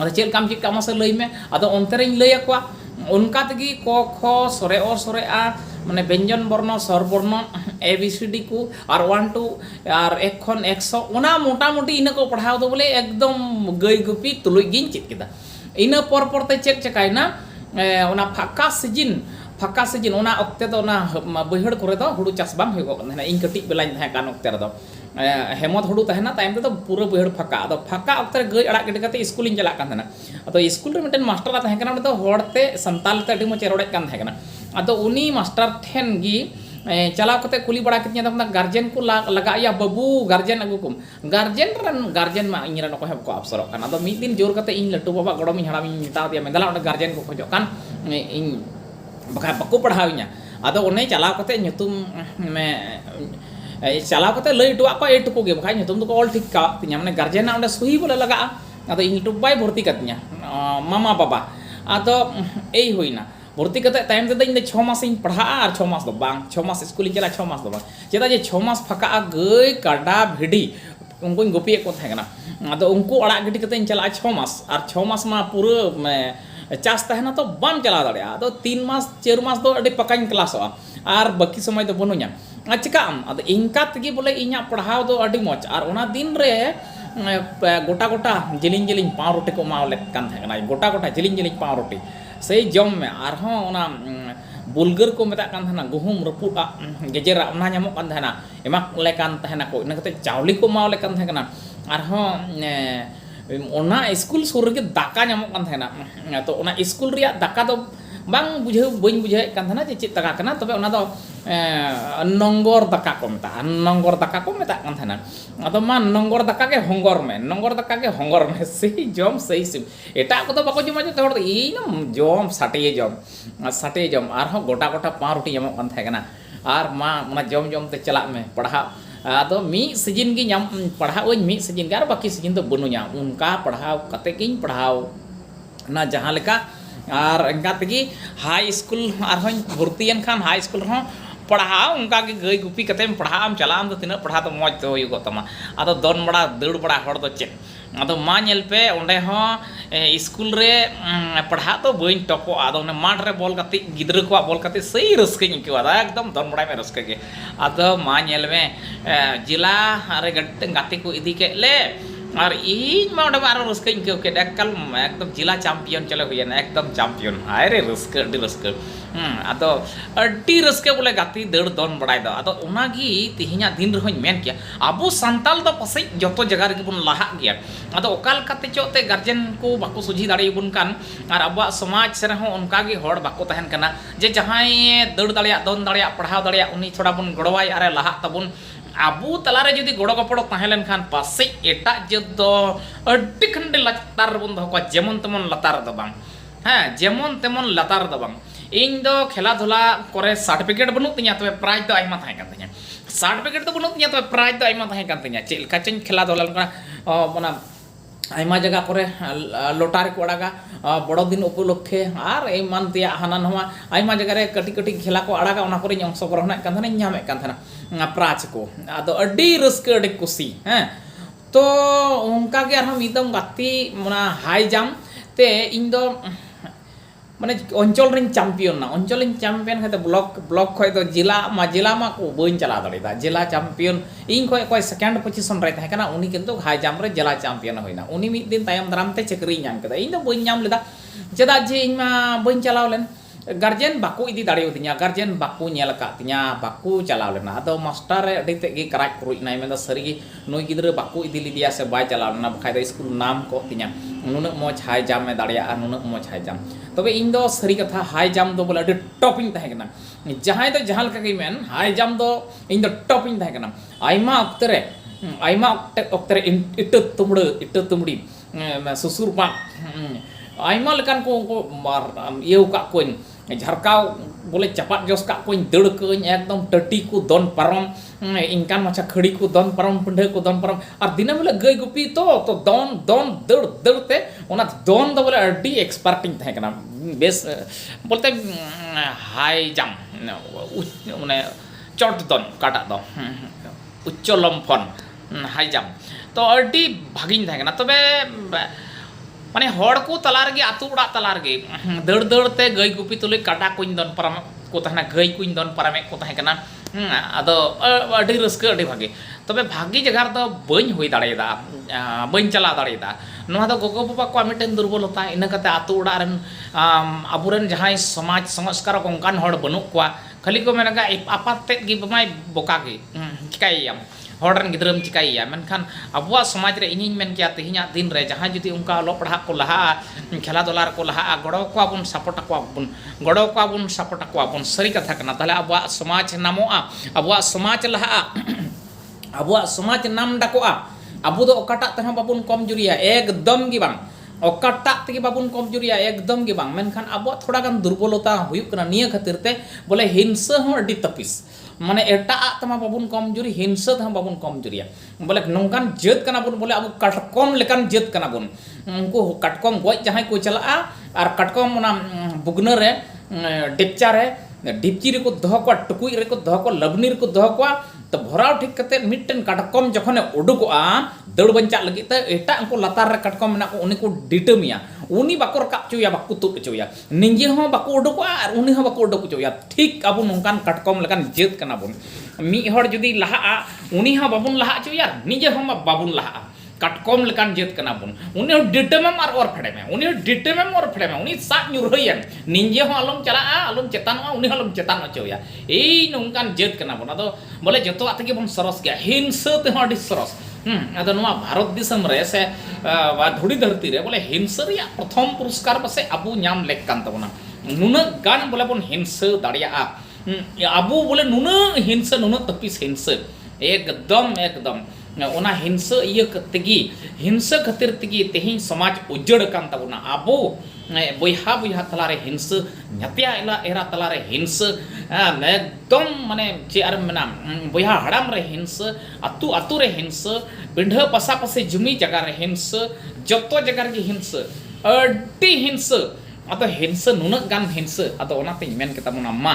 ᱟᱫᱚ ᱪᱮᱫ ᱞᱮᱠᱟᱢ ᱪᱮᱫ ᱠᱟᱜᱼᱟ ᱢᱟᱥᱮ ᱞᱟᱹᱭ ᱢᱮ ᱟᱫᱚ ᱚᱱᱛᱮ ᱨᱮᱧ ᱞᱟᱹᱭ ᱟᱠᱚᱣᱟ ᱚᱱᱠᱟ ᱛᱮᱜᱮ ᱠᱚ ᱠᱷᱚ ᱥᱚᱨᱮ ᱚ ᱥᱚᱨᱮ ᱟ ᱢᱟᱱᱮ ᱵᱮᱧᱡᱚᱱ ᱵᱚᱨᱱᱚ ᱥᱚᱨ ᱵᱚᱨᱱᱚ ᱮ ᱵᱤ ᱥᱤ ᱰᱤ ᱠᱚ ᱟᱨ ᱚᱣᱟᱱ ᱴᱩ ᱟᱨ ᱮᱠ ᱠᱷᱚᱱ ᱮᱠᱥᱚ ᱚᱱᱟ ᱢᱚᱴᱟᱢᱩᱴᱤ ᱤᱱᱟᱹ ᱠᱚ ᱯᱟᱲᱦᱟᱣ ᱫᱚ ᱵᱚᱞᱮ ᱮᱠᱫᱚᱢ ᱜᱟᱹᱭ ᱜᱩᱯᱤ ᱛᱩᱞᱩᱡ ᱜᱤᱧ ᱪᱮᱫ ᱠᱮᱫᱟ ᱤᱱᱟᱹ ᱯᱚᱨ ᱯᱚᱨ ᱛᱮ ᱪᱮᱫ ᱪᱤᱠᱟᱹᱭᱮᱱᱟ ᱚᱱᱟ ᱯᱷᱟᱸᱠᱟ ᱥᱤᱡᱤᱱ ᱯᱷᱟᱸᱠᱟ ᱥᱤᱡᱤᱱ ᱚᱱᱟ ᱚᱠᱛᱮ ᱫᱚ ᱚᱱᱟ ᱵᱟᱹᱭᱦᱟᱹᱲ ᱠᱚᱨᱮ ᱫᱚ ᱦᱩᱲᱩ ᱪᱟᱥ ᱵᱟᱝ ᱦᱩᱭᱩᱜᱚᱜ ᱠᱟᱱ ᱛᱟᱦᱮᱱᱟ ᱤᱧ ᱠᱟᱹᱴᱤᱡ ᱵᱮᱞᱟᱧ ᱛᱟᱦᱮᱸ ᱠᱟᱱ ᱚᱠᱛᱮ ᱨᱮᱫᱚ ᱦᱮᱢᱚᱱᱛ ᱦᱩᱲᱩ ᱛᱟᱦᱮᱱᱟ ᱛᱟᱭᱚᱢ ᱛᱮᱫᱚ ᱯᱩᱨᱟᱹ ᱵᱟᱹᱭᱦᱟᱹᱲ ᱯᱷᱟᱸᱠᱟ ᱟᱫᱚ ᱯᱷᱟᱸᱠᱟ ᱚᱠᱛᱚ ᱨᱮ ᱜᱟᱹᱭ ᱟᱲᱟᱜ ᱜᱤᱰᱤ ᱠᱟᱛᱮ ᱥᱠᱩᱞᱤᱧ ᱪᱟᱞᱟᱜ ᱠᱟᱱ ᱛᱟᱦᱮᱱᱟ ᱟᱫᱚ ᱥᱠᱩᱞ ᱨᱮ ᱢᱤᱫᱴᱮᱱ ᱢᱟᱥᱴᱟᱨ ᱮ ᱛᱟᱦᱮᱸ ᱠᱟᱱᱟ ᱩᱱᱤ ᱫᱚ ᱦᱚᱲ ᱛᱮ ᱥᱟᱱᱛᱟᱲ ᱛᱮ ᱟᱹᱰᱤ ᱢᱚᱡᱽ ᱮ ᱨᱚᱲᱮᱫ ᱠᱟᱱ ᱛᱟᱦᱮᱸ ᱠᱟᱱᱟ ᱟᱫᱚ ᱩᱱᱤ ᱢᱟᱥᱴᱟᱨ ᱴᱷᱮᱱ ᱜᱮ ᱪᱟᱞᱟᱣ ᱠᱟᱛᱮ ᱠᱩᱞᱤ ᱵᱟᱲᱟ ᱠᱤᱫᱤᱧᱟᱭ ᱟᱫᱚᱭ ᱢᱮᱱᱫᱟ ᱜᱟᱨᱡᱮᱱ ᱠᱚ ᱞᱟᱜᱟᱜ ᱟᱭᱟ ᱵᱟᱹᱵᱩ ᱜᱟᱨᱡᱮᱱ ᱟᱹᱜᱩ ᱠᱚᱢ ᱜᱟᱨᱡᱮᱱ ᱨᱮᱱ ᱜᱟᱨᱡᱮᱱ ᱢᱟ ᱤᱧ ᱨᱮᱱ ᱚᱠᱚᱭ ᱦᱚᱸ ᱵᱟᱠᱚ ᱟᱯᱥᱚᱨᱚᱜ ᱠᱟᱱᱟ ᱟᱫᱚ ᱢᱤᱫ ᱫᱤᱱ ᱡᱳᱨ ᱠᱟᱛᱮ ᱤᱧ ᱞᱟᱹᱴᱩ ᱵᱟᱵᱟ ᱜᱚᱲᱚᱢᱤᱧ ᱦᱟᱲᱟᱢᱤᱧ ᱢᱮᱛᱟ ᱫᱮᱭᱟ ᱢᱮᱱ ᱫᱟᱞᱟ ᱚᱸᱰᱮ ᱜᱟᱨᱡᱮᱱ ᱠᱚ ᱠᱷᱚᱡᱚᱜ ᱠᱟᱱ ᱤᱧ ᱵᱟᱠᱷᱟᱡ ᱵᱟᱠᱚ ᱯᱟᱲᱦᱟᱣᱤᱧᱟ ᱟᱫᱚ ᱚᱱᱮ ᱪᱟᱞᱟᱣ ᱠᱟᱛᱮ ᱧᱩᱛᱩᱢ ᱢᱟᱱᱮ ᱪᱟᱞᱟᱣ ᱠᱟᱛᱮ ᱞᱟᱹᱭ ᱦᱚᱴᱚᱣᱟᱜ ᱠᱚᱣᱟ ᱮᱭ ᱴᱩᱠᱩ ᱜᱮ ᱵᱟᱠᱷᱟᱡ ᱧᱩᱛᱩᱢ ᱫᱚᱠᱚ ᱚᱞ ᱴᱷᱤᱠ ᱠᱟᱣᱟᱫ ᱛᱤᱧᱟ ᱢᱟᱱᱮ ᱜᱟᱨᱡᱮᱱ ᱟᱜ ᱚᱸᱰᱮ ᱥᱩᱦᱤ ᱵᱚᱞᱮ ᱞᱟᱜᱟᱜᱼᱟ ᱟᱫᱚ ᱤᱧ ᱞᱟᱹᱴᱩ ᱵᱟᱵᱟᱭ ᱵᱷᱚᱨᱛᱤ ᱠᱟᱫᱤᱧᱟ ᱢᱟᱢᱟ ᱵᱟᱵᱟ ᱟᱫᱚ ᱮᱭ ᱦᱩᱭᱱᱟ ᱵᱷᱚᱨᱛᱤ ᱠᱟᱛᱮ ᱛᱟᱭᱚᱢ ᱛᱮᱫᱚ ᱤᱧ ᱫᱚ ᱪᱷᱚ ᱢᱟᱥ ᱤᱧ ᱯᱟᱲᱦᱟᱜᱼᱟ ᱟᱨ ᱪᱷᱚ ᱢᱟᱥ ᱫᱚ ᱵᱟᱝ ᱪᱷᱚ ᱢᱟᱥ ᱥᱠᱩᱞ ᱤᱧ ᱪᱟᱞᱟᱜᱼᱟ ᱪᱷᱚ ᱢᱟᱥ ᱫᱚ ᱵᱟᱝ ᱪᱮᱫᱟᱜ ᱡᱮ ᱪᱷᱚ ᱢᱟᱥ ᱯᱷᱟᱠᱟᱜᱼᱟ ᱜᱟᱹᱭ ᱠᱟᱰᱟ ᱵᱷᱤᱰᱤ ᱩᱱᱠᱩᱧ ᱜᱩᱯᱤᱭᱮᱫ ᱠᱚ ᱛᱟᱦᱮᱸ ᱠᱟᱱᱟ ᱟᱫᱚ ᱩᱱᱠᱩ ᱟᱲᱟᱜ ᱜᱤᱰᱤ ᱠᱟᱛᱮ ᱤᱧ ᱪᱟᱞᱟᱜᱼᱟ ᱪᱷᱚ ᱢᱟᱥ ᱟᱨ ᱪᱷᱚ ᱢᱟᱥ ᱢᱟ ᱯᱩᱨᱟᱹ ᱪᱟᱥ ᱛᱟᱦᱮᱱᱟ ᱛᱚ ᱵᱟᱢ ᱪᱟᱞᱟᱣ ᱫᱟᱲᱮᱭᱟᱜᱼᱟ ᱟᱫᱚ ᱛᱤᱱ ᱢᱟᱥ ᱪᱟᱹᱨ ᱢᱟᱥ ᱫᱚ ᱟᱹᱰᱤ ᱯᱟᱠᱟᱧ ᱠᱞᱟᱥᱚᱜᱼᱟ ᱟᱨ ᱵᱟᱹᱠᱤ ᱥᱚᱢᱚᱭ ᱫᱚ ᱵᱟᱹᱱᱩᱧᱟ ᱟᱨ ᱪᱤᱠᱟᱹᱜ ᱟᱢ ᱟᱫᱚ ᱤᱱᱠᱟ ᱛᱮᱜᱮ ᱵᱚᱞᱮ ᱤᱧᱟᱹᱜ ᱯᱟᱲᱦᱟᱣ ᱫᱚ ᱟᱹᱰᱤ ᱢᱚᱡᱽ ᱟᱨ ᱚᱱᱟ ᱫᱤᱱ ᱨᱮ ᱜᱚᱴᱟ ᱜᱚᱴᱟ ᱡᱮᱞᱮᱧ ᱡᱮᱞᱮᱧ ᱯᱟᱣ ᱨᱩᱴᱤ ᱠᱚ ᱮᱢᱟᱣ ᱞᱮᱫ ᱠᱟᱱ ᱛᱟᱦᱮᱸ ᱠᱟᱱᱟ ᱜᱚᱴᱟ ᱜᱚᱴᱟ ᱡᱮᱞᱮᱧ ᱡᱮᱞᱮᱧ ᱯᱟᱣ ᱨᱩᱴᱤ ᱥᱮᱭ ᱡᱚᱢ ᱢᱮ ᱟᱨᱦᱚᱸ ᱚᱱᱟ ᱵᱩᱞᱜᱟᱹᱨ ᱠᱚ ᱢᱮᱛᱟᱜ ᱠᱟᱱ ᱛᱟᱦᱮᱱᱟ ᱜᱩᱦᱩᱢ ᱨᱟᱹᱯᱩᱫ ᱟᱜ ᱜᱮᱡᱮᱨᱟᱜ ᱚᱱᱟ ᱧᱟᱢᱚᱜ ᱠᱟᱱ ᱛᱟᱦᱮᱱᱟ ᱮᱢᱟ ᱞᱮ ᱠᱟᱱ ᱛᱟᱦᱮᱱᱟᱠᱚ ᱤᱱᱟᱹ ᱠᱟᱛᱮᱫ ᱪᱟᱣᱞᱮ ᱠᱚ ᱮᱢᱟᱣ ᱞᱮ ᱠᱟᱱ ᱛᱟᱦᱮᱸ ᱠᱟᱱᱟ ᱟᱨᱦᱚᱸ ᱚᱱᱟ ᱥᱠᱩᱞ ᱥᱩᱨ ᱨᱮᱜᱮ ᱫᱟᱠᱟ ᱧᱟᱢᱚᱜ ᱠᱟᱱ ᱛᱟᱦᱮᱱᱟ ᱛᱚ ᱚᱱᱟ ᱥᱠᱩᱞ ᱨᱮᱭᱟᱜ ᱫᱟᱠᱟ ᱫᱚ ᱵᱟᱝ ᱵᱩᱡᱷᱟᱹᱣ ᱵᱟᱹᱧ ᱵᱩᱡᱷᱟᱹᱣᱮᱫ ᱠᱟᱱ ᱛᱟᱦᱮᱱᱟ ᱡᱮ ᱪᱮᱫ ᱫᱟᱠᱟ ᱠᱟᱱᱟ ᱛᱚᱵᱮ ᱚᱱᱟ ᱫᱚ ᱱᱚᱝᱜᱚᱨ ᱫᱟᱠᱟ ᱠᱚ ᱢᱮᱛᱟᱜᱼᱟ ᱱᱚᱝᱜᱚᱨ ᱫᱟᱠᱟ ᱠᱚ ᱢᱮᱛᱟᱜ ᱠᱟᱱ ᱛᱟᱦᱮᱱᱟ ᱟᱫᱚ ᱢᱟ ᱱᱚᱝᱜᱚᱨ ᱫᱟᱠᱟ ᱜᱮ ᱦᱚᱝᱜᱚᱨ ᱢᱮ ᱱᱚᱝᱜᱚᱨ ᱫᱟᱠᱟ ᱜᱮ ᱦᱚᱝᱜᱚᱨ ᱢᱮ ᱥᱮᱭ ᱡᱚᱢ ᱥᱮᱭ ᱥᱤᱢ ᱮᱴᱟᱜ ᱠᱚᱫᱚ ᱵᱟᱠᱚ ᱡᱚᱢᱟ ᱡᱚᱛᱚ ᱦᱚᱲ ᱫᱚ ᱤᱧ ᱡᱚᱢ ᱥᱟᱴᱮ ᱡᱚᱢ ᱥᱟᱴᱮ ᱡᱚᱢ ᱟᱨᱦᱚᱸ ᱜᱚᱴᱟ ᱜᱚᱴᱟ ᱯᱟᱣᱨᱩᱴᱤ ᱧᱟᱢᱚᱜ ᱠᱟᱱ ᱛᱟᱦᱮᱸ ᱠᱟᱱᱟ ᱟᱨ ᱢᱟ ᱚᱱᱟ ᱡᱚᱢ ᱡᱚᱢ ᱛᱮ ᱪᱟᱞᱟᱜ ᱢᱮ ᱯᱟᱲᱦᱟᱜ ᱟᱫᱚ ᱢᱤᱫ ᱥᱤᱡᱤᱱ ᱜᱮ ᱧᱟᱢ ᱯᱟᱲᱦᱟᱜ ᱟᱹᱧ ᱢᱤᱫ ᱥᱤᱡᱤᱱ ᱜᱮ ᱟᱨ ᱵᱟᱹᱠᱤ ᱥᱤᱡᱤᱱ ᱫᱚ ᱵᱟᱹᱱᱩᱧᱟ ᱚᱱᱠᱟ ᱯᱟᱲᱦᱟᱣ ᱠᱟᱛᱮ ᱜᱤᱧ ᱯᱟᱲᱦᱟᱣ ᱮᱱᱟ ᱡᱟᱦᱟᱸ ᱞᱮᱠᱟ ᱟᱨ ᱤᱱᱠᱟ ᱛᱮᱜᱮ ᱦᱟᱭ ᱥᱠᱩᱞ ᱟᱨ ᱦᱚᱧ ᱵᱷᱚᱨᱛᱤᱭᱮᱱ ᱠᱷᱟᱱ ᱦᱟᱭ ᱥᱠᱩᱞ ᱨᱮ ᱦᱚᱸ ᱯᱟᱲᱦᱟᱣ ᱚᱱᱠᱟ ᱜᱮ ᱜᱟᱹᱭ ᱜᱩᱯᱤ ᱠᱟᱛᱮᱢ ᱯᱟᱲᱦᱟᱜᱼᱟᱢ ᱪᱟᱞᱟᱜᱼᱟᱢ ᱛᱤᱱᱟᱹᱜ ᱯᱟᱲᱦᱟᱣ ᱫᱚ ᱢᱚᱡᱽ ᱛᱮ ᱦᱩᱭᱩᱜᱚᱜ ᱛᱟᱢᱟ ᱟᱫᱚ ᱫᱚᱱ ᱵᱟᱲᱟ ᱫᱟᱹᱲ ᱵᱟᱲᱟ ᱦᱚᱲ ᱫᱚ ᱪᱮᱫ ᱟᱫᱚ ᱢᱟ ᱧᱮᱞ ᱯᱮ ᱚᱸᱰᱮ ᱦᱚᱸ ᱤᱥᱠᱩᱞ ᱨᱮ ᱯᱟᱲᱦᱟᱜ ᱫᱚ ᱵᱟᱹᱧ ᱴᱚᱯᱚᱜᱼᱟ ᱟᱫᱚ ᱚᱱᱮ ᱢᱟᱴᱷ ᱨᱮ ᱵᱚᱞ ᱜᱟᱛᱮᱜ ᱜᱤᱫᱽᱨᱟᱹ ᱠᱚᱣᱟᱜ ᱵᱚᱞ ᱜᱟᱛᱮᱜ ᱥᱮᱭ ᱨᱟᱹᱥᱠᱟᱹᱧ ᱟᱹᱭᱠᱟᱹᱣᱟ ᱟᱫᱚ ᱮᱠᱫᱚᱢ ᱫᱚᱱ ᱵᱟᱲᱟᱭ ᱢᱮ ᱨᱟᱹᱥᱠᱟᱹ ᱜᱮ ᱟᱫᱚ ᱢᱟ ᱧᱮᱞ ᱢᱮ ᱡᱮᱞᱟ ᱨᱮ ᱜᱟᱛᱮ ᱠᱚ ᱤᱫᱤ ᱠᱮᱫ ᱞᱮ ᱟᱨ ᱤᱧ ᱢᱟ ᱚᱸᱰᱮ ᱢᱟ ᱟᱨᱚ ᱨᱟᱹᱥᱠᱟᱹᱧ ᱟᱹᱭᱠᱟᱹᱣ ᱠᱮᱫ ᱮᱠᱟᱞ ᱮᱠᱫᱚᱢ ᱡᱮᱞᱟ ᱪᱟᱢᱯᱤᱭᱟᱱ ᱪᱚᱞᱮ ᱦᱩᱭᱮᱱ ᱮᱠᱫᱚᱢ ᱪᱟᱢᱯᱤᱭᱟᱱ ᱦᱟᱭ ᱨᱮ ᱨᱟᱹᱥᱠᱟᱹ ᱟᱹᱰᱤ ᱨᱟᱹᱥᱠᱟᱹ ᱟᱫᱚ ᱟᱹᱰᱤ ᱨᱟᱹᱥᱠᱟᱹ ᱵᱚᱞᱮ ᱜᱟᱛᱮ ᱫᱟᱹᱲ ᱫᱚᱱ ᱵᱟᱲᱟᱭ ᱫᱚ ᱟᱫᱚ ᱚᱱᱟᱜᱮ ᱛᱮᱦᱮᱧᱟᱜ ᱫᱤᱱ ᱨᱮᱦᱚᱸᱧ ᱢᱮᱱ ᱠᱮᱭᱟ ᱟᱵᱚ ᱥᱟᱱᱛᱟᱞ ᱫᱚ ᱯᱟᱥᱮᱡ ᱡᱚᱛᱚ ᱡᱟᱜᱟ ᱨᱮᱜᱮ ᱵᱚᱱ ᱞᱟᱦᱟᱜ ᱜᱮᱭᱟ ᱟᱫᱚ ᱚᱠᱟ ᱞᱮᱠᱟ ᱛᱮ ᱪᱚᱜ ᱛᱮ ᱜᱟᱨᱡᱮᱱ ᱠᱚ ᱵᱟᱠᱚ ᱥᱚᱡᱷᱮ ᱫᱟᱲᱮ ᱟᱵᱚᱱ ᱠᱟᱱ ᱟᱨ ᱟᱵᱚᱣᱟᱜ ᱥᱚᱢᱟᱡᱽ ᱨᱮᱦᱚᱸ ᱚᱱᱠᱟ ᱜᱮ ᱦᱚᱲ ᱵᱟᱠᱚ ᱛᱟᱦᱮᱱ ᱠᱟᱱᱟ ᱡᱮ ᱡᱟᱦᱟᱸᱭ ᱮ ᱫᱟᱹᱲ ᱫᱟᱲᱮᱭᱟᱜ ᱫᱚᱱ ᱫᱟᱲᱮᱭᱟᱜ ᱯᱟᱲᱦᱟᱣ ᱫᱟᱲᱮᱭᱟᱜ ᱩᱱᱤ ᱛᱷᱚᱲᱟ ᱵᱚᱱ ᱜᱚᱲᱚ ᱟᱭ ᱟᱨ ᱮ ᱞᱟᱦᱟᱜ ᱛᱟᱵᱚᱱ ᱟᱵᱚ ᱛᱟᱞᱟ ᱨᱮ ᱡᱩᱫᱤ ᱜᱚᱲᱚ ᱜᱚᱯᱚᱲᱚ ᱛᱟᱦᱮᱸ ᱞᱮᱱ ᱠᱷᱟᱱ ᱯᱟᱥᱮᱡ ᱮᱴᱟᱜ ᱡᱟᱹᱛ ᱫᱚ ᱟᱹᱰᱤ ᱠᱷᱟᱱ ᱟᱹᱰᱤ ᱞᱟᱛᱟᱨ ᱨᱮᱵᱚᱱ ᱫᱚᱦᱚ ᱠᱚᱣᱟ ᱡᱮᱢᱚᱱ ᱛᱮᱢᱚᱱ ᱞᱟᱛᱟᱨ ᱨᱮᱫᱚ ᱵᱟᱝ ᱦᱮᱸ ᱡᱮᱢᱚᱱ ᱛᱮᱢᱚᱱ ᱞᱟᱛᱟᱨ ᱨᱮᱫᱚ ᱵᱟᱝ ᱤᱧ ᱫᱚ ᱠᱷᱮᱞᱟ ᱫᱷᱩᱞᱟ ᱠᱚᱨᱮ ᱥᱟᱨᱴᱤᱯᱷᱤᱠᱮᱴ ᱵᱟᱹᱱᱩᱜ ᱛᱤᱧᱟᱹ ᱛᱚᱵᱮ ᱯᱨᱟᱭᱤᱡᱽ ᱫᱚ ᱟᱭᱢᱟ ᱛᱟᱦᱮᱸ ᱠᱟᱱ ᱛᱤᱧᱟᱹ ᱥᱟᱨᱴᱤᱯᱷᱤᱠᱮᱴ ᱫᱚ ᱵᱟᱹᱱᱩᱜ ᱛᱤᱧᱟ ᱛᱚᱵᱮ ᱯᱨᱟᱭᱤᱡᱽ ᱫᱚ ᱟᱭᱢᱟ ᱛᱟᱦᱮᱸ ᱠᱟᱱ ᱛᱤᱧᱟ ᱪᱮᱫ ᱞᱮᱠᱟ ᱪᱚᱧ ᱠᱷᱮᱞᱟ ᱫᱚᱦᱚ ᱞᱮᱱ ᱠᱟᱱᱟ ᱚᱱᱟ ᱟᱭᱢᱟ ᱡᱟᱭᱜᱟ ᱠᱚᱨᱮ ᱞᱚᱴᱟ ᱨᱮᱠᱚ ᱟᱲᱟᱜᱟ ᱵᱚᱲᱚ ᱫᱤᱱ ᱩᱯᱚᱞᱚᱠᱠᱷᱮ ᱟᱨ ᱮᱢᱟᱱ ᱛᱮᱭᱟᱜ ᱦᱟᱱᱟ ᱱᱚᱣᱟ ᱟᱭᱢᱟ ᱡᱟᱭᱜᱟ ᱨᱮ ᱠᱟᱹᱴᱤᱡ ᱠᱟᱹᱴᱤᱡ ᱠᱷᱮᱞᱟ ᱠᱚ ᱟᱲᱟᱜᱟ ᱚᱱᱟ ᱠᱚᱨᱮᱧ ᱚᱝᱥᱚᱜᱨᱚᱦᱚᱱᱮᱫ ᱠᱟᱱ ᱛᱟᱦᱮᱱᱤᱧ ᱧᱟᱢᱮᱫ ᱠᱟᱱ ᱛᱟᱦᱮᱱᱟ ᱯᱨᱟᱭᱤᱡᱽ ᱠᱚ ᱟᱫᱚ ᱟᱹᱰᱤ ᱨᱟᱹᱥᱠᱟᱹ ᱟᱹᱰᱤ ᱠᱩᱥᱤ ᱦᱮᱸ ᱛᱚ ᱚᱱᱠᱟᱜᱮ ᱟᱨᱦᱚᱸ ᱢᱤᱫ ᱫᱚᱢ ᱜᱟᱛᱮ ᱚᱱᱟ ᱦᱟᱭ ᱡᱟᱢᱯ ᱛᱮ ᱤᱧ ᱫᱚ ᱢᱟᱱᱮ ᱚᱧᱪᱚᱞ ᱨᱮᱧ ᱪᱟᱢᱯᱤᱭᱚᱱ ᱮᱱᱟ ᱚᱧᱪᱚᱞ ᱨᱮᱧ ᱪᱟᱢᱯᱤᱭᱚᱱ ᱠᱟᱛᱮ ᱵᱞᱚᱠ ᱵᱞᱚᱠ ᱠᱷᱚᱱ ᱫᱚ ᱡᱮᱞᱟ ᱢᱟ ᱡᱮᱞᱟ ᱢᱟ ᱵᱟᱹᱧ ᱪᱟᱞᱟᱣ ᱫᱟᱲᱮᱭᱟᱫᱟ ᱡᱮᱞᱟ ᱪᱟᱢᱯᱤᱭᱚᱱ ᱤᱧ ᱠᱷᱚᱱ ᱚᱠᱚᱭ ᱥᱮᱠᱮᱱᱰ ᱯᱚᱡᱤᱥᱚᱱ ᱨᱮᱭ ᱛᱟᱦᱮᱸ ᱠᱟᱱᱟ ᱩᱱᱤ ᱠᱤᱱᱛᱩ ᱦᱟᱭ ᱡᱟᱢᱯ ᱨᱮ ᱡᱮᱞᱟ ᱪᱟᱢᱯᱤᱭᱚᱱ ᱦᱩᱭ ᱮᱱᱟ ᱩᱱᱤ ᱢᱤᱫ ᱫᱤᱱ ᱛᱟᱭᱚᱢ ᱫᱟᱨᱟᱢ ᱛᱮ ᱪᱟᱹᱠᱨᱤᱭ ᱧᱟᱢ ᱠᱮᱫᱟ ᱤᱧ ᱫᱚ ᱵᱟᱹᱧ ᱧᱟᱢ ᱞᱮᱫᱟ ᱪᱮᱫᱟᱜ ᱡᱮ ᱤᱧ ᱢᱟ ᱵᱟᱹᱧ ᱪᱟᱞᱟᱣ ᱞᱮᱱ ᱜᱟᱨᱡᱮᱱ ᱵᱟᱠᱚ ᱤᱫᱤ ᱫᱟᱲᱮᱭᱟᱫᱤᱧᱟ ᱜᱟᱨᱡᱮᱱ ᱵᱟᱠᱚ ᱧᱮᱞ ᱟᱠᱟᱫ ᱛᱤᱧᱟᱹ ᱵᱟᱠᱚ ᱪᱟᱞᱟᱣ ᱞᱮᱱᱟ ᱟᱫᱚ ᱢᱟᱥᱴᱟᱨ ᱟᱹᱰᱤ ᱛᱮᱫ ᱜᱮ ᱠᱟᱨᱟᱡ ᱠᱩᱨᱩᱡ ᱮᱱᱟᱭ ᱢᱮᱱᱫᱟᱭ ᱥᱟᱹᱨᱤ ᱜᱮ ᱱᱩᱭ ᱜᱤᱫᱽᱨᱟᱹ ᱵᱟᱠᱚ ᱤᱫᱤ ᱞᱮᱫᱮᱭᱟ ᱥᱮ ᱵᱟᱭ ᱪᱟᱞᱟᱣ ᱞᱮᱱᱟ ᱵᱟᱠᱷᱟᱡ ᱫᱚ ᱤᱥᱠᱩᱞ ᱱᱟᱢ ᱠᱚᱜ ᱛᱤᱧᱟ ᱱᱩᱱᱟᱹᱜ ᱢᱚᱡᱽ ᱦᱟᱭ ᱡᱟᱢ ᱮ ᱫᱟᱲᱮᱭᱟᱜᱼᱟ ᱱᱩᱱᱟᱹᱜ ᱢᱚᱡᱽ ᱦᱟᱭ ᱡᱟᱢ ᱛᱚᱵᱮ ᱤᱧ ᱫᱚ ᱥᱟᱹᱨᱤ ᱠᱟᱛᱷᱟ ᱦᱟᱭ ᱡᱟᱢ ᱫᱚ ᱵᱚᱞᱮ ᱟᱹᱰᱤ ᱴᱚᱯ ᱤᱧ ᱛᱟᱦᱮᱸ ᱠᱟᱱᱟ ᱡᱟᱦᱟᱸᱭ ᱫᱚ ᱡᱟᱦᱟᱸ ᱞᱮᱠᱟ ᱜᱮ ᱢᱮᱱ ᱦᱟᱭ ᱡᱟᱢ ᱫᱚ ᱤᱧ ᱫᱚ ᱴᱚᱯ ᱤᱧ ᱛᱟᱦᱮᱸ ᱠᱟᱱᱟ ᱟᱭᱢᱟ ᱚᱠᱛᱮ ᱨᱮ ᱟᱭᱢᱟ ᱚᱠᱛᱮ ᱨᱮ ᱤᱴᱟᱹ ᱛᱩᱢᱲᱟᱹ ᱤᱴᱟᱹ ᱛᱩᱢᱲᱤ ᱥᱩᱥᱩᱨ ᱵᱟᱸᱠ ᱟᱭᱢᱟ ᱞᱮᱠᱟᱱ ᱠᱚ ᱩᱱᱠᱩ ᱤᱭᱟᱹᱣ ᱠᱟᱜ ᱠᱚᱣᱟᱹᱧ ᱡᱷᱟᱨᱠᱟᱣ ᱵᱚᱞᱮ ᱪᱟᱯᱟᱫ ᱡᱚᱥ ᱠᱟᱜ ᱠᱚᱣᱟᱧ ᱫᱟᱹᱲ ᱠᱟᱜ ᱟᱹᱧ ᱮᱠᱫᱚᱢ ᱴᱟᱹᱴᱤ ᱠᱚ ᱫᱚᱱ ᱯᱟᱨᱚᱢ ᱤᱱᱠᱟᱱ ᱢᱟᱪᱷᱟ ᱠᱷᱟᱹᱲᱤ ᱠᱚ ᱫᱚᱱ ᱯᱟᱨᱚᱢ ᱯᱤᱰᱷᱟᱹ ᱠᱚ ᱫᱚᱱ ᱯᱟᱨᱚᱢ ᱟᱨ ᱫᱤᱱᱟᱹᱢ ᱦᱤᱞᱳᱜ ᱜᱟᱹᱭ ᱜᱩᱯᱤ ᱛᱚ ᱛᱚ ᱫᱚᱱ ᱫᱚᱱ ᱫᱟᱹᱲ ᱫᱟᱹᱲ ᱛᱮ ᱚᱱᱟ ᱫᱚᱱ ᱫᱚ ᱵᱚᱞᱮ ᱟᱹᱰᱤ ᱮᱠᱥᱯᱟᱨᱴ ᱤᱧ ᱛᱟᱦᱮᱸ ᱠᱟᱱᱟ ᱵᱮᱥ ᱵᱚᱞᱛᱮ ᱦᱟᱭ ᱡᱟᱢ ᱢᱟᱱᱮ ᱪᱚᱴ ᱫᱚᱱ ᱚᱠᱟᱴᱟᱜ ᱫᱚ ᱩᱪᱪᱚ ᱞᱚᱢᱯᱷᱚᱱ ᱦᱟᱭ ᱡᱟᱢᱯ ᱛᱚ ᱟᱹᱰᱤ ᱵᱷᱟᱜᱮᱧ ᱛᱟᱦᱮᱸ ᱠᱟᱱᱟ ᱛᱚᱵᱮ ᱢᱟᱱᱮ ᱦᱚᱲ ᱠᱚ ᱛᱟᱞᱟ ᱨᱮᱜᱮ ᱟᱛᱳ ᱚᱲᱟᱜ ᱛᱟᱞᱟ ᱨᱮᱜᱮ ᱫᱟᱹᱲ ᱫᱟᱹᱲ ᱛᱮ ᱜᱟᱹᱭ ᱜᱩᱯᱤ ᱛᱩᱞᱩᱡ ᱠᱟᱰᱟ ᱠᱚᱧ ᱫᱚᱱ ᱯᱟᱨᱚᱢᱮᱫ ᱠᱚ ᱛᱟᱦᱮᱱᱟ ᱜᱟᱹᱭ ᱠᱚᱧ ᱫᱚᱱ ᱯᱟᱨᱚᱢᱮᱫ ᱠᱚ ᱛᱟᱦᱮᱸ ᱠᱟᱱᱟ ᱟᱫᱚ ᱟᱹᱰᱤ ᱨᱟᱹᱥᱠᱟᱹ ᱟᱹᱰᱤ ᱵᱷᱟᱜᱮ ᱛᱚᱵᱮ ᱵᱷᱟᱜᱮ ᱡᱟᱭᱜᱟ ᱨᱮᱫᱚ ᱵᱟᱹᱧ ᱦᱩᱭ ᱫᱟᱲᱮᱭᱟᱫᱟ ᱵᱟᱹᱧ ᱪᱟᱞᱟᱣ ᱫᱟᱲᱮᱭᱟᱫᱟ ᱱᱚᱣᱟ ᱫᱚ ᱜᱚᱜᱚ ᱵᱟᱵᱟ ᱠᱚᱣᱟᱜ ᱢᱤᱫᱴᱮᱱ ᱫᱩᱨᱵᱚᱞᱚᱛᱟ ᱤᱱᱟᱹ ᱠᱟᱛᱮᱫ ᱟᱛᱳ ᱚᱲᱟᱜ ᱨᱮᱱ ᱟᱵᱚ ᱨᱮᱱ ᱡᱟᱦᱟᱸᱭ ᱥᱚᱢᱟᱡᱽ ᱥᱚᱝᱥᱠᱟᱨᱚᱠ ᱚᱱᱠᱟᱱ ᱦᱚᱲ ᱵᱟᱹᱱᱩᱜ ᱠᱚᱣᱟ ᱠᱷᱟᱹᱞᱤ ᱠᱚ ᱢᱮᱱᱟ ᱟᱯᱟᱛ ᱛᱮᱫ ᱜᱮ ᱵᱟᱝᱢᱟᱭ ᱵᱚᱠᱟ ᱜᱮ ᱪᱤᱠᱟᱹᱭᱮᱭᱟᱢ ᱦᱚᱲ ᱨᱮᱱ ᱜᱤᱫᱽᱨᱟᱹᱢ ᱪᱤᱠᱟᱹᱭᱮᱭᱟ ᱢᱮᱱᱠᱷᱟᱱ ᱟᱵᱚᱣᱟᱜ ᱥᱚᱢᱟᱡᱽ ᱨᱮ ᱤᱧᱤᱧ ᱢᱮᱱ ᱠᱮᱭᱟ ᱛᱮᱦᱮᱧᱟᱜ ᱫᱤᱱ ᱨᱮ ᱡᱟᱦᱟᱸᱭ ᱡᱩᱫᱤ ᱚᱱᱠᱟ ᱚᱞᱚᱜ ᱯᱟᱲᱦᱟᱜ ᱠᱚ ᱞᱟᱦᱟᱜᱼᱟ ᱠᱷᱮᱞᱟ ᱫᱷᱩᱞᱟ ᱨᱮᱠᱚ ᱞᱟᱦᱟᱜᱼᱟ ᱜᱚᱲᱚ ᱟᱠᱚᱣᱟ ᱵᱚᱱ ᱥᱟᱯᱳᱨᱴ ᱟᱠᱚᱣᱟ ᱵᱚᱱ ᱜᱚᱲᱚ ᱟᱠᱚᱣᱟ ᱵᱚᱱ ᱥᱟᱯᱳᱨᱴ ᱟᱠᱚᱣᱟ ᱵᱚᱱ ᱥᱟᱹᱨᱤ ᱠᱟᱛᱷᱟ ᱠᱟᱱᱟ ᱛᱟᱦᱚᱞᱮ ᱟᱵᱚᱣᱟᱜ ᱥᱚᱢᱟᱡᱽ ᱱᱟᱢᱚᱜᱼᱟ ᱟᱵᱚᱣᱟᱜ ᱥᱚᱢᱟᱡᱽ ᱞᱟᱦᱟᱜᱼᱟ ᱟᱵᱚᱣᱟᱜ ᱥᱚᱢᱟᱡᱽ ᱱᱟᱢ ᱰᱟᱠᱚᱜᱼᱟ ᱟᱵᱚ ᱫᱚ ᱚᱠᱟᱴᱟᱜ ᱛᱮᱦᱚᱸ ᱵᱟᱵᱚᱱ ᱠᱚᱢ ᱡᱩᱨᱤᱭᱟ ᱮᱠᱫᱚᱢ ᱜᱮ ᱵᱟᱝ ᱚᱠᱟᱴᱟᱜ ᱛᱮᱜᱮ ᱵᱟᱵᱚᱱ ᱠᱚᱢ ᱡᱩᱨᱤᱭᱟ ᱮᱠᱫᱚᱢ ᱜᱮ ᱵᱟᱝ ᱢᱮᱱᱠᱷᱟᱱ ᱟᱵᱚᱣᱟᱜ ᱛᱷᱚᱲᱟ ᱜᱟᱱ ᱫᱩᱨᱵᱚᱞᱚᱛᱟ ᱦᱩᱭᱩᱜ ᱠᱟᱱᱟ ᱱᱤᱭᱟᱹ ᱠᱷᱟᱹᱛᱤᱨ ᱛᱮ ᱵᱚᱞᱮ ᱦᱤᱝᱥᱟᱹ ᱦᱚᱸ ᱟᱹᱰᱤ ᱛᱟᱹᱯᱤᱥ ᱢᱟᱱᱮ ᱮᱴᱟᱜ ᱟᱜ ᱛᱮᱢᱟ ᱵᱟᱵᱚᱱ ᱠᱚᱢᱡᱩᱨᱤ ᱦᱤᱝᱥᱟᱹ ᱛᱮᱦᱚᱸ ᱵᱟᱵᱚᱱ ᱠᱚᱢᱡᱩᱨᱤᱭᱟ ᱵᱚᱞᱮ ᱱᱚᱝᱠᱟᱱ ᱡᱟᱹᱛ ᱠᱟᱱᱟ ᱵᱚᱱ ᱵᱚᱞᱮ ᱟᱵᱚ ᱠᱟᱴᱠᱚᱢ ᱞᱮᱠᱟᱱ ᱡᱟᱹᱛ ᱠᱟᱱᱟ ᱵᱚᱱ ᱩᱱᱠᱩ ᱠᱟᱴᱠᱚᱢ ᱜᱚᱡ ᱡᱟᱦᱟᱸᱭ ᱠᱚ ᱪᱟᱞᱟᱜᱼᱟ ᱟᱨ ᱠᱟᱴᱠᱚᱢ ᱚᱱᱟ ᱵᱩᱜᱽᱱᱟᱹ ᱨᱮ ᱰᱮᱠᱪᱟ ᱨᱮ ᱰᱷᱤᱯᱪᱤ ᱨᱮᱠᱚ ᱫᱚᱦᱚ ᱠᱚᱣᱟ ᱴᱩᱠᱩᱡ ᱨᱮᱠᱚ ᱫᱚᱦᱚ ᱠᱚᱣᱟ ᱞᱟᱵᱽᱱᱤ ᱨᱮᱠᱚ ᱫᱚᱦᱚ ᱠᱚᱣᱟ ᱛᱚ ᱵᱷᱚᱨᱟᱣ ᱴᱷᱤᱠ ᱠᱟᱛᱮ ᱢᱤᱫᱴᱮᱱ ᱠᱟᱴᱠᱚᱢ ᱡᱚᱠᱷᱚᱱᱮ ᱩᱰᱩᱠᱚᱜᱼᱟ ᱫᱟᱹᱲ ᱵᱟᱧᱪᱟᱜ ᱞᱟᱹᱜᱤᱫ ᱛᱮ ᱮᱴᱟᱜ ᱩᱱᱠᱩ ᱞᱟᱛᱟᱨ ᱨᱮ ᱠᱟᱴᱠᱚᱢ ᱢᱮᱱᱟᱜ ᱠᱚ ᱩᱱᱤ ᱠᱚ ᱰᱤᱴᱟᱹᱢᱮᱭᱟ ᱩᱱᱤ ᱵᱟᱠᱚ ᱨᱟᱠᱟᱵ ᱦᱚᱪᱚᱭᱮᱭᱟ ᱵᱟᱠᱚ ᱛᱩᱫ ᱦᱚᱪᱚᱭᱮᱭᱟ ᱱᱤᱡᱮ ᱦᱚᱸ ᱵᱟᱠᱚ ᱩᱰᱩᱠᱚᱜᱼᱟ ᱟᱨ ᱩᱱᱤ ᱦᱚᱸ ᱵᱟᱠᱚ ᱩᱰᱩᱠ ᱦᱚᱪᱚᱣᱟᱭᱟ ᱴᱷᱤᱠ ᱟᱵᱚ ᱱᱚᱝᱠᱟᱱ ᱠᱟᱴᱠᱚᱢ ᱞᱮᱠᱟᱱ ᱡᱟᱹᱛ ᱠᱟᱱᱟ ᱵᱚᱱ ᱢᱤᱫ ᱦᱚᱲ ᱡᱩᱫᱤ ᱞᱟᱦᱟᱜᱼᱟ ᱩᱱᱤ ᱦᱚᱸ ᱵᱟᱵᱚᱱ ᱞᱟᱦᱟ ᱦᱚᱪᱚᱣᱟᱭᱟ ᱱᱤᱡᱮ ᱦᱚᱸ ᱵᱟᱵᱚᱱ ᱞᱟᱦᱟᱜᱼᱟ ᱠᱟᱴᱠᱚᱢ ᱞᱮᱠᱟᱱ ᱡᱟᱹᱛ ᱠᱟᱱᱟ ᱵᱚᱱ ᱩᱱᱤ ᱦᱚᱸ ᱰᱤᱴᱟᱹᱢᱮᱢ ᱟᱨ ᱚᱨ ᱯᱷᱮᱰᱮᱢᱮ ᱩᱱᱤ ᱦᱚᱸ ᱰᱤᱴᱟᱹᱢᱮᱢ ᱚᱨ ᱯᱷᱮᱰᱮᱢᱮ ᱩᱱᱤ ᱥᱟᱵ ᱧᱩᱨᱦᱟᱹᱭᱮᱢ ᱱᱤᱡᱮ ᱦᱚᱸ ᱟᱞᱚᱢ ᱪᱟᱞᱟᱜᱼᱟ ᱟᱞᱚᱢ ᱪᱮᱛᱟᱱᱚᱜᱼᱟ ᱩᱱᱤ ᱦᱚᱸ ᱟᱞᱚᱢ ᱪᱮᱛᱟᱱ ᱦᱚᱪᱚᱣᱟᱭᱟ ᱮᱭ ᱱᱚᱝᱠᱟᱱ ᱡᱟᱹᱛ ᱠᱟᱱᱟ ᱵᱚᱱ ᱟᱫᱚ ᱵᱚᱞᱮ ᱡᱚᱛᱚᱣᱟᱜ ᱛᱮᱜᱮ ᱵᱚᱱ ᱥᱚᱨᱚᱥ ᱜᱮᱭᱟ ᱦᱤᱱᱥᱟᱹ ᱛᱮᱦᱚᱸ ᱟᱹᱰᱤ ᱥᱚᱨᱚᱥ ᱦᱩᱸ ᱟᱫᱚ ᱱᱚᱣᱟ ᱵᱷᱟᱨᱚᱛ ᱫᱤᱥᱚᱢ ᱨᱮ ᱥᱮ ᱫᱷᱩᱲᱤ ᱫᱷᱟᱹᱨᱛᱤ ᱨᱮ ᱵᱚᱞᱮ ᱦᱤᱱᱥᱟᱹ ᱨᱮᱭᱟᱜ ᱯᱨᱚᱛᱷᱚᱢ ᱯᱩᱨᱚᱥᱠᱟᱨ ᱯᱟᱥᱮ ᱟᱵᱚ ᱧᱟᱢ ᱞᱮᱠ ᱠᱟᱱ ᱛᱟᱵᱚᱱᱟ ᱱᱩᱱᱟᱹᱜ ᱜᱟᱱ ᱵᱚᱞᱮ ᱵᱚᱱ ᱦᱤᱱᱥᱟᱹ ᱫᱟᱲᱮᱭᱟᱜᱼᱟ ᱟᱵᱚ ᱵᱚᱞᱮ ᱱᱩᱱᱟᱹᱜ ᱦᱤᱱᱥᱟᱹ ᱱᱩᱱᱟᱹᱜ ᱛᱟᱹᱯᱤᱥ ᱦᱤᱱᱥᱟᱹ ᱮᱠᱫᱚᱢ ᱮᱠᱫᱚᱢ ᱚᱱᱟ ᱦᱤᱱᱥᱟᱹ ᱤᱭᱟᱹ ᱛᱮᱜᱮ ᱦᱤᱱᱥᱟᱹ ᱠᱷᱟᱹᱛᱤᱨ ᱛᱮᱜᱮ ᱛᱮᱦᱮᱧ ᱥᱚᱢᱟᱡᱽ ᱩᱡᱟᱹᱲ ᱟᱠᱟᱱ ᱛᱟᱵᱚᱱᱟ ᱟᱵᱚ ᱵᱚᱭᱦᱟ ᱵᱚᱭᱦᱟ ᱛᱟᱞᱟᱨᱮ ᱦᱤᱱᱥᱟᱹ ᱧᱟᱛᱭᱟ ᱮᱞᱟ ᱮᱨᱟ ᱛᱟᱞᱟᱨᱮ ᱦᱤᱱᱥᱟᱹ ᱮᱠᱫᱚᱢ ᱢᱟᱱᱮ ᱪᱮᱫ ᱟᱨᱮᱢ ᱢᱮᱱᱟ ᱵᱚᱭᱦᱟ ᱦᱟᱲᱟᱢ ᱨᱮ ᱦᱤᱱᱥᱟᱹ ᱟᱹᱛᱩ ᱟᱹᱛᱩ ᱨᱮ ᱦᱤᱱᱥᱟᱹ ᱯᱤᱰᱷᱟᱹ ᱯᱟᱥᱟ ᱯᱟᱥᱤ ᱡᱩᱢᱤ ᱡᱟᱭᱜᱟ ᱨᱮ ᱦᱤᱱᱥᱟᱹ ᱡᱚᱛᱚ ᱡᱟᱭᱜᱟ ᱨᱮᱜᱮ ᱦᱤᱱᱥᱟᱹ ᱟᱹᱰᱤ ᱦᱤᱱᱥᱟᱹ ᱟᱫᱚ ᱦᱤᱱᱥᱟᱹ ᱱᱩᱱᱟᱹᱜ ᱜᱟᱱ ᱦᱤᱱᱥᱟᱹ ᱟᱫᱚ ᱚᱱᱟᱛᱤᱧ ᱢᱮᱱ ᱠᱮᱫᱟ ᱵᱚᱱᱟ ᱢᱟ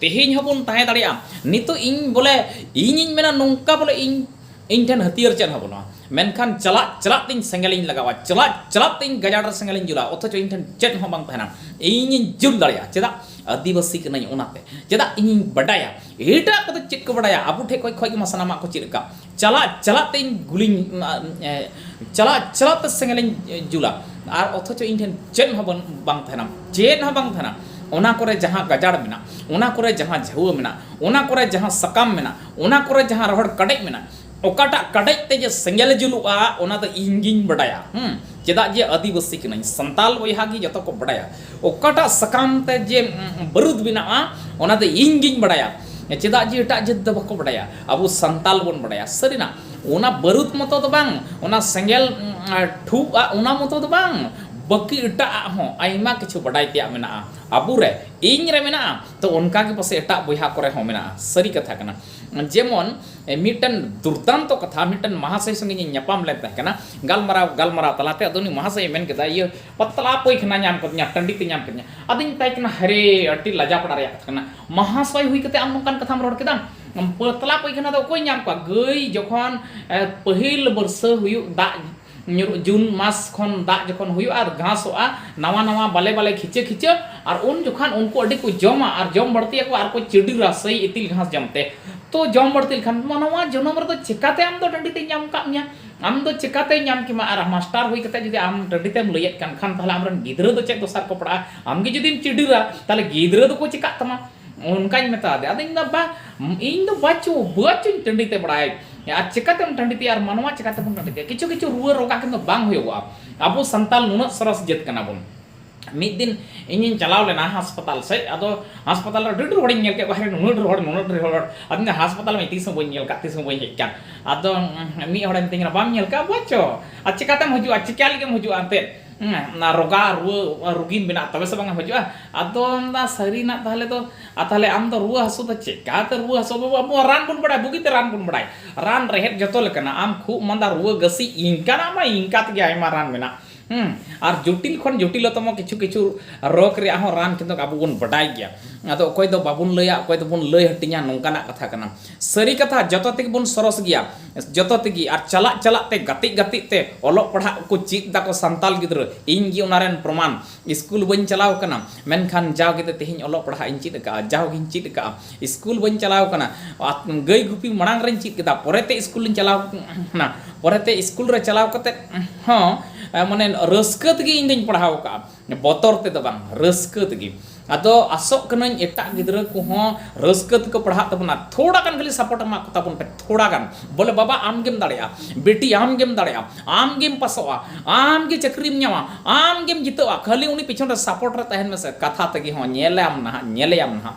ᱛᱮᱦᱮᱧ ᱦᱚᱸ ᱵᱚᱱ ᱛᱟᱦᱮᱸ ᱫᱟᱲᱮᱭᱟᱜᱼᱟ ᱱᱤᱛᱚᱜ ᱤᱧ ᱵᱚᱞᱮ ᱤᱧᱤᱧ ᱢᱮᱱᱟ ᱱᱚᱝᱠᱟ ᱵᱚᱞᱮ ᱤᱧ ᱤᱧ ᱴᱷᱮᱱ ᱦᱟᱹᱛᱭᱟᱹᱨ ᱪᱮᱫ ᱦᱚᱸ ᱵᱟᱹᱱᱩᱜᱼᱟ ᱢᱮᱱᱠᱷᱟᱱ ᱪᱟᱞᱟᱜ ᱪᱟᱞᱟᱜ ᱛᱤᱧ ᱥᱮᱸᱜᱮᱞᱤᱧ ᱞᱟᱜᱟᱣᱟ ᱪᱟᱞᱟᱜ ᱪᱟᱞᱟᱜ ᱛᱤᱧ ᱜᱟᱡᱟᱲ ᱨᱮ ᱥᱮᱸᱜᱮᱞᱤᱧ ᱡᱩᱞᱟ ᱚᱛᱷᱚᱪᱚ ᱤᱧ ᱴᱷᱮᱱ ᱪᱮᱫ ᱦᱚᱸ ᱵᱟᱝ ᱛᱟᱦᱮᱱᱟ ᱤᱧᱤᱧ ᱡᱩᱞ ᱫᱟᱲᱮᱭᱟᱜᱼᱟ ᱪᱮᱫᱟᱜ ᱟᱹᱫᱤᱵᱟᱹᱥᱤ ᱠᱟᱹᱱᱟᱹᱧ ᱚᱱᱟᱛᱮ ᱪᱮᱫᱟᱜ ᱤᱧᱤᱧ ᱵᱟᱰᱟᱭᱟ ᱮᱴᱟᱜ ᱠᱚᱫᱚ ᱪᱮᱫ ᱠᱚ ᱵᱟᱰᱟᱭᱟ ᱟᱵᱚ ᱴᱷᱮᱱ ᱠᱷᱚᱱ ᱜᱮᱢᱟ ᱥᱟᱱᱟᱢᱟᱜ ᱠᱚ ᱪᱮᱫ ᱟᱠᱟᱫ ᱪᱟᱞᱟᱜ ᱪᱟᱞᱟᱜ ᱛᱮ ᱤᱧ ᱜᱩᱞᱤᱧ ᱪᱟᱞᱟᱜ ᱪᱟᱞᱟᱜ ᱛᱮ ᱥᱮᱸᱜᱮᱞ ᱤᱧ ᱡᱩᱞᱟ ᱟᱨ ᱚᱛᱷᱚᱪᱚ ᱤᱧ ᱴᱷᱮᱱ ᱪᱮᱫ ᱦᱚᱸ ᱵᱟᱝ ᱛᱟᱦᱮᱱᱟ ᱪᱮᱫ ᱦᱚᱸ ᱵᱟᱝ ᱛᱟᱦᱮᱱᱟ ᱚᱱᱟ ᱠᱚᱨᱮ ᱡᱟᱦᱟᱸ ᱜᱟᱡᱟᱲ ᱢᱮᱱᱟᱜᱼᱟ ᱚᱱᱟ ᱠᱚᱨᱮ ᱡᱟᱦᱟᱸ ᱡᱷᱟᱹᱣᱟᱹ ᱢᱮᱱᱟᱜᱼᱟ ᱚᱱᱟ ᱠᱚᱨᱮ ᱡᱟᱦᱟᱸ ᱥᱟᱠᱟᱢ ᱢᱮᱱᱟᱜᱼᱟ ᱚᱱᱟ ᱠᱚᱨᱮ ᱡᱟᱦᱟᱸ ᱨᱚᱦᱚᱲ ᱠᱟᱰᱮᱡ ᱢᱮᱱᱟᱜᱼᱟ ᱚᱠᱟᱴᱟᱜ ᱠᱟᱰᱮᱡ ᱛᱮ ᱡᱮ ᱥᱮᱸᱜᱮᱞ ᱡᱩᱞᱩᱜᱼᱟ ᱚᱱᱟ ᱫᱚ ᱤᱧ ᱜᱤᱧ ᱵᱟᱰᱟᱭᱟ ᱪᱮᱫᱟᱜ ᱡᱮ ᱟᱹᱫᱤᱵᱟᱹᱥᱤ ᱠᱟᱹᱱᱟᱹᱧ ᱥᱟᱱᱛᱟᱞ ᱵᱚᱭᱦᱟ ᱜᱮ ᱡᱚᱛᱚ ᱠᱚ ᱵᱟᱰᱟᱭᱟ ᱚᱠᱟᱴᱟᱜ ᱥᱟᱠᱟᱢ ᱛᱮ ᱡᱮ ᱵᱟᱹᱨᱩᱫ ᱵᱮᱱᱟᱜᱼᱟ ᱚᱱᱟ ᱫᱚ ᱤᱧ ᱜᱤᱧ ᱵᱟᱰᱟᱭᱟ ᱪᱮᱫᱟᱜ ᱡᱮ ᱮᱴᱟᱜ ᱡᱟᱹᱛ ᱫᱚ ᱵᱟᱠᱚ ᱵᱟᱰᱟᱭᱟ ᱟᱵᱚ ᱥᱟᱱᱛᱟᱞ ᱵᱚᱱ ᱵᱟᱲᱟᱭᱟ ᱥᱟᱹᱨᱤᱱᱟᱜ ᱚᱱᱟ ᱵᱟᱹᱨᱩᱫ ᱢᱚᱛᱚ ᱫᱚ ᱵᱟᱝ ᱚᱱᱟ ᱥᱮᱸᱜᱮᱞ ᱴᱷᱩᱜᱼᱟ ᱚᱱᱟ ᱢᱚᱛᱚ ᱫᱚ ᱵᱟᱝ ᱵᱟᱹᱠᱤ ᱮᱴᱟᱜ ᱦᱚᱸ ᱟᱭᱢᱟ ᱠᱤᱪᱷᱩ ᱵᱟᱰᱟᱭ ᱛᱮᱭᱟᱜ ᱢᱮᱱᱟᱜᱼᱟ ᱟᱵᱚ ᱨᱮ ᱤᱧ ᱨᱮ ᱢᱮᱱᱟᱜᱼᱟ ᱛᱚ ᱚᱱᱠᱟ ᱜᱮ ᱯᱟᱥᱮ ᱮᱴᱟᱜ ᱵᱚᱭᱦᱟ ᱠᱚᱨᱮ ᱦᱚᱸ ᱢᱮᱱᱟᱜᱼᱟ ᱥᱟᱹᱨᱤ ᱠᱟᱛᱷᱟ ᱠᱟᱱᱟ ᱡᱮᱢᱚᱱ ᱢᱤᱫᱴᱮᱱ ᱫᱩᱨᱫᱟᱱᱛᱚ ᱠᱟᱛᱷᱟ ᱢᱤᱫᱴᱮᱱ ᱢᱟᱦᱟᱥᱚᱭ ᱥᱚᱸᱜᱮ ᱤᱧ ᱧᱟᱯᱟᱢ ᱞᱮᱱ ᱛᱟᱦᱮᱸ ᱠᱟᱱᱟ ᱜᱟᱞᱢᱟᱨᱟᱣ ᱜᱟᱞᱢᱟᱨᱟᱣ ᱛᱟᱞᱟᱛᱮ ᱟᱫᱚ ᱩᱱᱤ ᱢᱟᱦᱟᱥᱚᱭ ᱢᱮᱱ ᱠᱮᱫᱟ ᱤᱭᱟᱹ ᱯᱟᱛᱞᱟ ᱯᱟᱭᱠᱷᱟᱱᱟ ᱧᱟᱢ ᱠᱟᱫᱤᱧᱟ ᱴᱟᱺᱰᱤ ᱛᱮ ᱧᱟᱢ ᱠᱟᱫᱤᱧᱟ ᱟᱫᱚᱧ ᱢᱮᱛᱟᱭ ᱠᱟᱱᱟ ᱦᱟᱭᱨᱮ ᱟᱹᱰᱤ ᱞᱟᱡᱟᱯᱟᱲᱟ ᱨᱮᱭᱟᱜ ᱠᱟᱛᱷᱟ ᱠᱟᱱᱟ ᱢᱟᱦᱟᱥᱚᱭ ᱦᱩᱭ ᱠᱟᱛᱮ ᱟᱢ ᱱᱚᱝᱠᱟᱱ ᱠᱟᱛᱷᱟᱢ ᱨᱚᱲ ᱠᱮᱫᱟ ᱯᱟᱛᱞᱟ ᱯᱟᱭᱠᱷᱟᱱᱟ ᱫᱚ ᱚᱠᱚᱭ ᱧᱟᱢ ᱠᱚᱣᱟ ᱜᱟᱹᱭ ᱡᱚᱠᱷᱚᱱ ᱯᱟᱹᱦᱤᱞ ᱵᱟᱹᱨᱥᱟᱹ ᱦᱩᱭᱩᱜ ᱫᱟᱜ ᱧᱩᱨᱩᱜ ᱡᱩᱱ ᱢᱟᱥ ᱠᱷᱚᱱ ᱫᱟᱜ ᱡᱚᱠᱷᱚᱱ ᱦᱩᱭᱩᱜᱼᱟ ᱟᱨ ᱜᱷᱟᱥᱚᱜᱼᱟ ᱱᱟᱣᱟ ᱱᱟᱣᱟ ᱵᱟᱞᱮ ᱵᱟᱞᱮ ᱠᱷᱤᱪᱟᱹ ᱠᱷᱤᱪᱟᱹ ᱟᱨ ᱩᱱ ᱡᱚᱠᱷᱟᱱ ᱩᱱᱠᱩ ᱟᱹᱰᱤ ᱠᱚ ᱡᱚᱢᱟ ᱟᱨ ᱡᱚᱢ ᱵᱟᱹᱲᱛᱤ ᱟᱠᱚ ᱟᱨ ᱠᱚ ᱪᱤᱰᱤᱨᱟ ᱥᱮᱭ ᱤᱛᱤᱞ ᱜᱷᱟᱥ ᱡᱚᱢ ᱛᱮ ᱛᱚ ᱡᱚᱢ ᱵᱟᱹᱲᱛᱤ ᱞᱮᱠᱷᱟᱱ ᱢᱟᱱᱣᱟ ᱡᱚᱱᱚᱢ ᱨᱮᱫᱚ ᱪᱤᱠᱟᱹᱛᱮ ᱟᱢ ᱫᱚ ᱴᱟᱺᱰᱤ ᱛᱮᱭ ᱧᱟᱢ ᱠᱟᱜ ᱢᱮᱭᱟ ᱟᱢ ᱫᱚ ᱪᱤᱠᱟᱹᱛᱮ ᱧᱟᱢ ᱠᱮᱢᱟ ᱟᱨ ᱢᱟᱥᱴᱟᱨ ᱦᱩᱭ ᱠᱟᱛᱮ ᱡᱩᱫᱤ ᱟᱢ ᱴᱟᱺᱰᱤ ᱛᱮᱢ ᱞᱟᱹᱭᱮᱫ ᱠᱟᱱ ᱠᱷᱟᱱ ᱛᱟᱦᱚᱞᱮ ᱟᱢ ᱨᱮᱱ ᱜᱤᱫᱽᱨᱟᱹ ᱫᱚ ᱪᱮᱫ ᱫᱚᱥᱟ ᱨᱮᱠᱚ ᱯᱟᱲᱟᱜᱼᱟ ᱟᱢ ᱜᱮ ᱡᱩᱫᱤᱢ ᱪᱤᱰᱤᱨᱟ ᱛᱟᱦᱚᱞᱮ ᱜᱤᱫᱽᱨᱟᱹ ᱫᱚᱠᱚ ᱪᱤᱠᱟᱹᱜ ᱛᱟᱢᱟ ᱚᱱᱠᱟᱧ ᱢᱮᱛᱟ ᱟᱫᱮᱭᱟ ᱟᱫᱚ ᱤᱧ ᱫᱚ ᱵᱟᱝ ᱤᱧ ᱫᱚ ᱵᱟᱪᱚ ᱵᱟᱪᱚᱧ ᱴᱟᱺᱰᱤ ᱛᱮ ᱵᱟᱲᱟᱭ ᱟᱨ ᱪᱮᱠᱟᱛᱮᱢ ᱴᱟᱺᱰᱤ ᱛᱮᱭᱟ ᱟᱨ ᱢᱟᱱᱣᱟ ᱪᱮᱠᱟᱛᱮ ᱵᱚᱱ ᱴᱟᱺᱰᱤ ᱛᱮᱭᱟ ᱠᱤᱪᱷᱩ ᱠᱤᱪᱷᱩ ᱨᱩᱣᱟᱹ ᱨᱳᱜᱟ ᱠᱤᱱᱛᱩ ᱵᱟᱝ ᱦᱩᱭᱩᱜᱼᱟ ᱟᱵᱚ ᱥᱟᱱᱛᱟᱲ ᱱᱩᱱᱟᱹᱜ ᱥᱚᱨᱚᱥ ᱡᱟᱹᱛ ᱠᱟᱱᱟ ᱵᱚᱱ ᱢᱤᱫ ᱫᱤᱱ ᱤᱧᱤᱧ ᱪᱟᱞᱟᱣ ᱞᱮᱱᱟ ᱦᱟᱥᱯᱟᱛᱟᱞ ᱥᱮᱫ ᱟᱫᱚ ᱦᱟᱥᱯᱟᱛᱟᱞ ᱨᱮ ᱟᱹᱰᱤ ᱰᱷᱮᱨ ᱦᱚᱲᱤᱧ ᱧᱮᱞ ᱠᱮᱫ ᱠᱚᱣᱟ ᱦᱟᱭᱨᱮ ᱱᱩᱱᱟᱹᱜ ᱰᱷᱮᱨ ᱦᱚᱲ ᱱᱩᱱᱟᱹᱜ ᱰᱷᱮᱨ ᱦᱚᱲ ᱟᱫᱚ ᱤᱧ ᱦᱟᱥᱯᱟᱛᱟᱞ ᱢᱟ ᱛᱤᱥ ᱦᱚᱸ ᱵᱟᱹᱧ ᱧᱮᱞ ᱠᱟᱜ ᱛᱤᱥ ᱦᱚᱸ ᱵᱟᱹᱧ ᱦᱮᱡ ᱠᱟᱱ ᱟᱫᱚ ᱢᱤᱫ ᱦᱚᱲᱮ ᱢᱤᱛᱟᱹᱧ ᱠᱟᱱᱟ ᱵᱟᱢ ᱧᱮᱞ ᱠᱟᱜᱼᱟ ᱵᱟᱪᱚ ᱟᱨ ᱪᱮᱠᱟᱛᱮᱢ ᱦᱤᱡᱩᱜᱼᱟ ᱪᱮᱠᱟ ᱞᱟᱹᱜᱤᱫ ᱮᱢ ᱦᱤᱡᱩᱜᱼᱟ ᱮᱱᱛᱮᱫ ᱚᱱᱟ ᱨᱳᱜᱟ ᱨᱩᱣᱟᱹ ᱨᱩᱜᱤ ᱢᱮᱱᱟᱜ ᱛᱚᱵᱮ ᱥᱮ ᱵᱟᱝ ᱦᱤᱡᱩᱜᱼᱟ ᱟᱫᱚ ᱢᱮᱱᱫᱟ ᱥᱟᱹᱨᱤᱱᱟᱜ ᱛᱟᱦᱚᱞᱮ ᱫᱚ ᱟᱨ ᱛᱟᱦᱚᱞᱮ ᱟᱢ ᱫᱚ ᱨᱩᱣᱟᱹ ᱦᱟᱹᱥᱩ ᱫᱚ ᱪᱮᱠᱟᱛᱮ ᱨᱩᱣᱟᱹ ᱦᱟᱹᱥᱩ ᱵᱟᱹᱵᱩ ᱟᱵᱚ ᱨᱟᱱ ᱵᱚᱱ ᱵᱟᱲᱟᱭᱟ ᱵᱩᱜᱤᱛᱮ ᱨᱟᱱ ᱵᱚᱱ ᱵᱟᱲᱟᱭᱟ ᱨᱟᱱ ᱨᱮᱦᱮᱫ ᱡᱚᱛᱚ ᱞᱮᱠᱟᱱᱟᱜ ᱟᱢ ᱠᱷᱩᱜ ᱢᱟᱸᱫᱟ ᱨᱩᱣᱟᱹ ᱜᱟᱹᱥᱤ ᱤᱱᱠᱟᱱᱟᱜ ᱢᱟ ᱤᱱᱠᱟ ᱛᱮᱜᱮ ᱟᱭᱢᱟ ᱨᱟᱱ ᱢᱮᱱᱟᱜᱼᱟ ᱟᱨ ᱡᱚᱴᱤᱞ ᱠᱷᱚᱱ ᱡᱚᱴᱤᱞᱚᱛᱚᱢ ᱠᱤᱪᱷᱩ ᱠᱤᱪᱷᱩ ᱨᱳᱜᱽ ᱨᱮᱭᱟᱜ ᱦᱚᱸ ᱨᱟᱱ ᱠᱤᱱᱛᱩ ᱟᱵᱚ ᱵᱚᱱ ᱵᱟᱰᱟᱭ ᱜᱮᱭᱟ ᱟᱫᱚ ᱚᱠᱚᱭ ᱫᱚ ᱵᱟᱵᱚᱱ ᱞᱟᱹᱭᱟ ᱚᱠᱚᱭ ᱫᱚᱵᱚᱱ ᱞᱟᱹᱭ ᱦᱟᱹᱴᱤᱧᱟ ᱱᱚᱝᱠᱟᱱᱟᱜ ᱠᱟᱛᱷᱟ ᱠᱟᱱᱟ ᱥᱟᱹᱨᱤ ᱠᱟᱛᱷᱟ ᱡᱚᱛᱚ ᱛᱮᱜᱮ ᱵᱚᱱ ᱥᱚᱨᱚᱥ ᱜᱮᱭᱟ ᱡᱚᱛᱚ ᱛᱮᱜᱮ ᱟᱨ ᱪᱟᱞᱟᱜ ᱪᱟᱞᱟᱜ ᱛᱮ ᱜᱟᱛᱮᱜ ᱜᱟᱛᱮᱜ ᱛᱮ ᱚᱞᱚᱜ ᱯᱟᱲᱦᱟᱜ ᱠᱚ ᱪᱮᱫ ᱮᱫᱟ ᱠᱚ ᱥᱟᱱᱛᱟᱞ ᱜᱤᱫᱽᱨᱟᱹ ᱤᱧ ᱜᱮ ᱚᱱᱟ ᱨᱮᱱ ᱯᱨᱚᱢᱟᱱ ᱥᱠᱩᱞ ᱵᱟᱹᱧ ᱪᱟᱞᱟᱣ ᱟᱠᱟᱱᱟ ᱢᱮᱱᱠᱷᱟᱱ ᱡᱟᱣ ᱜᱮ ᱛᱮᱦᱮᱧ ᱚᱞᱚᱜ ᱯᱟᱲᱦᱟᱜ ᱤᱧ ᱪᱮᱫ ᱟᱠᱟᱫᱼᱟ ᱡᱟᱣ ᱜᱮᱧ ᱪᱮᱫ ᱟᱠᱟᱫᱼᱟ ᱥᱠᱩᱞ ᱵᱟᱹᱧ ᱪᱟᱞᱟᱣ ᱟᱠᱟᱱᱟ ᱜᱟᱹᱭ ᱜᱩᱯᱤ ᱢᱟᱲᱟᱝ ᱨᱮᱧ ᱪᱮᱫ ᱠᱮᱫᱟ ᱯᱚᱨᱮ ᱛᱮ ᱥᱠᱩᱞ ᱤᱧ ᱪᱟᱞᱟᱣ ᱟᱠᱟᱱᱟ ᱯᱚᱨᱮ ᱛᱮ ᱥᱠᱩᱞ ᱨᱮ ᱪᱟᱞᱟᱣ ᱠᱟᱛᱮᱫ ᱦᱚᱸ ᱢᱟᱱᱮ ᱨᱟᱹᱥᱠᱟᱹ ᱛᱮᱜᱮ ᱤᱧ ᱫᱚᱧ ᱯᱟᱲᱦᱟᱣ ᱟᱠᱟᱫᱼᱟ ᱵᱚᱛᱚᱨ ᱛᱮᱫᱚ ᱵᱟᱝ ᱨᱟᱹᱥᱠᱟᱹ ᱛᱮᱜᱮ ᱟᱫᱚ ᱟᱥᱚᱜ ᱠᱟᱹᱱᱟᱹᱧ ᱮᱴᱟᱜ ᱜᱤᱫᱽᱨᱟᱹ ᱠᱚᱦᱚᱸ ᱨᱟᱹᱥᱠᱟᱹ ᱛᱮᱠᱚ ᱯᱟᱲᱦᱟᱜ ᱛᱟᱵᱚᱱᱟ ᱛᱷᱚᱲᱟ ᱜᱟᱱ ᱠᱷᱟᱹᱞᱤ ᱥᱟᱯᱳᱨᱴ ᱮᱢᱟ ᱠᱚ ᱛᱟᱵᱚᱱ ᱯᱮ ᱛᱷᱚᱲᱟ ᱜᱟᱱ ᱵᱚᱞᱮ ᱵᱟᱵᱟ ᱟᱢ ᱜᱮᱢ ᱫᱟᱲᱮᱭᱟᱜᱼᱟ ᱵᱤᱴᱤ ᱟᱢ ᱜᱮᱢ ᱫᱟᱲᱮᱭᱟᱜᱼᱟ ᱟᱢ ᱜᱮᱢ ᱯᱟᱥᱚᱜᱼᱟ ᱟᱢ ᱜᱮ ᱪᱟᱹᱠᱨᱤᱢ ᱧᱟᱢᱟ ᱟᱢ ᱜᱮᱢ ᱡᱤᱛᱟᱹᱜᱼᱟ ᱠᱷᱟᱹᱞᱤ ᱩᱱᱤ ᱯᱤᱪᱷᱚᱱ ᱨᱮ ᱥᱟᱯᱳᱨᱴ ᱨᱮ ᱛᱟᱦᱮᱱ ᱢᱮᱥᱮ ᱠᱟᱛᱷᱟ ᱛᱮᱜᱮ ᱦᱚᱸ ᱧᱮᱞᱟᱢ ᱱᱟᱦᱟᱜ ᱧᱮᱞᱮᱭᱟᱢ ᱱᱟᱦᱟᱜ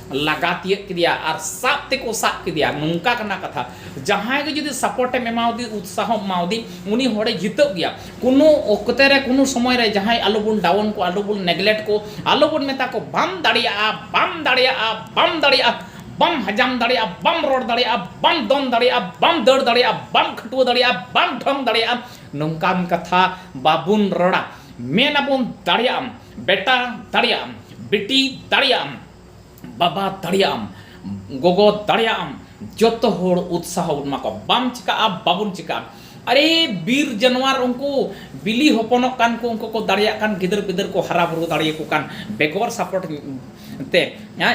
ᱞᱟᱜᱟ ᱛᱤᱭᱟᱹᱜ ᱠᱮᱫᱮᱭᱟ ᱟᱨ ᱥᱟᱵ ᱛᱮᱠᱚ ᱥᱟᱵ ᱠᱮᱫᱮᱭᱟ ᱱᱚᱝᱠᱟ ᱠᱟᱱᱟ ᱠᱟᱛᱷᱟ ᱡᱟᱦᱟᱸᱭ ᱜᱮ ᱡᱩᱫᱤ ᱥᱟᱯᱳᱨᱴ ᱮᱢ ᱮᱢᱟᱣᱫᱮ ᱩᱛᱥᱟᱦᱚ ᱮᱢᱟᱣᱫᱮ ᱩᱱᱤ ᱦᱚᱲᱮ ᱡᱤᱛᱟᱹᱜ ᱜᱮᱭᱟ ᱠᱳᱱᱳ ᱚᱠᱛᱮ ᱨᱮ ᱠᱳᱱᱳ ᱥᱚᱢᱚᱭ ᱨᱮ ᱡᱟᱦᱟᱸᱭ ᱟᱞᱚᱵᱚᱱ ᱰᱟᱣᱩᱱ ᱠᱚ ᱟᱞᱚᱵᱚᱱ ᱱᱮᱜᱽᱞᱮᱠᱴ ᱠᱚ ᱟᱞᱚᱵᱚᱱ ᱢᱮᱛᱟ ᱠᱚ ᱵᱟᱢ ᱫᱟᱲᱮᱭᱟᱜᱼᱟ ᱵᱟᱢ ᱫᱟᱲᱮᱭᱟᱜᱼᱟ ᱵᱟᱢ ᱫᱟᱲᱮᱭᱟᱜᱼᱟ ᱵᱟᱢ ᱦᱟᱡᱟᱢ ᱫᱟᱲᱮᱭᱟᱜᱼᱟ ᱵᱟᱢ ᱨᱚᱲ ᱫᱟᱲᱮᱭᱟᱜᱼᱟ ᱵᱟᱢ ᱫᱚᱱ ᱫᱟᱲᱮᱭᱟᱜᱼᱟ ᱵᱟᱢ ᱫᱟᱹᱲ ᱫᱟᱲᱮᱭᱟᱜᱼᱟ ᱵᱟᱢ ᱠᱷᱟᱹᱴᱩᱣᱟᱹ ᱫᱟᱲᱮᱭᱟᱜᱼᱟ ᱵᱟᱢ ᱰᱷᱚᱝ ᱫᱟᱲᱮᱭᱟᱜᱼᱟ ᱱᱚᱝᱠᱟᱱ ᱠᱟᱛᱷᱟ ᱵᱟᱵᱚᱱ ᱨᱚᱲᱟ ᱢᱮᱱᱟᱵᱚᱱ ᱫᱟᱲᱮᱭᱟᱜᱼᱟᱢ ᱵᱮᱴᱟ ᱫᱟᱲᱮᱭᱟᱜᱼᱟᱢ ᱵᱤᱴᱤ ᱫᱟᱲᱮᱭᱟᱜᱼᱟᱢ ᱵᱟᱵᱟ ᱫᱟᱲᱮᱭᱟᱜ ᱟᱢ ᱜᱚᱜᱚ ᱫᱟᱲᱮᱭᱟᱜ ᱟᱢ ᱡᱚᱛᱚ ᱦᱚᱲ ᱩᱛᱥᱟᱦᱚ ᱵᱚᱱ ᱮᱢᱟ ᱠᱚᱣᱟ ᱵᱟᱢ ᱪᱤᱠᱟᱹᱜᱼᱟ ᱵᱟᱵᱚᱱ ᱪᱤᱠᱟᱹᱜᱼᱟ ᱟᱨᱮ ᱵᱤᱨ ᱡᱟᱱᱣᱟᱨ ᱩᱱᱠᱩ ᱵᱤᱞᱤ ᱦᱚᱯᱚᱱᱚᱜ ᱠᱟᱱ ᱠᱚ ᱩᱱᱠᱩ ᱠᱚ ᱫᱟᱲᱮᱭᱟᱜ ᱠᱟᱱ ᱜᱤᱫᱟᱹᱨ ᱯᱤᱫᱟᱹᱨ ᱠᱚ ᱦᱟᱨᱟ ᱵᱩᱨᱩ ᱫᱟᱲᱮᱭᱟᱠᱚ ᱠᱟᱱ ᱵᱮᱜᱚᱨ ᱥᱟᱯᱳᱨᱴ ᱛᱮ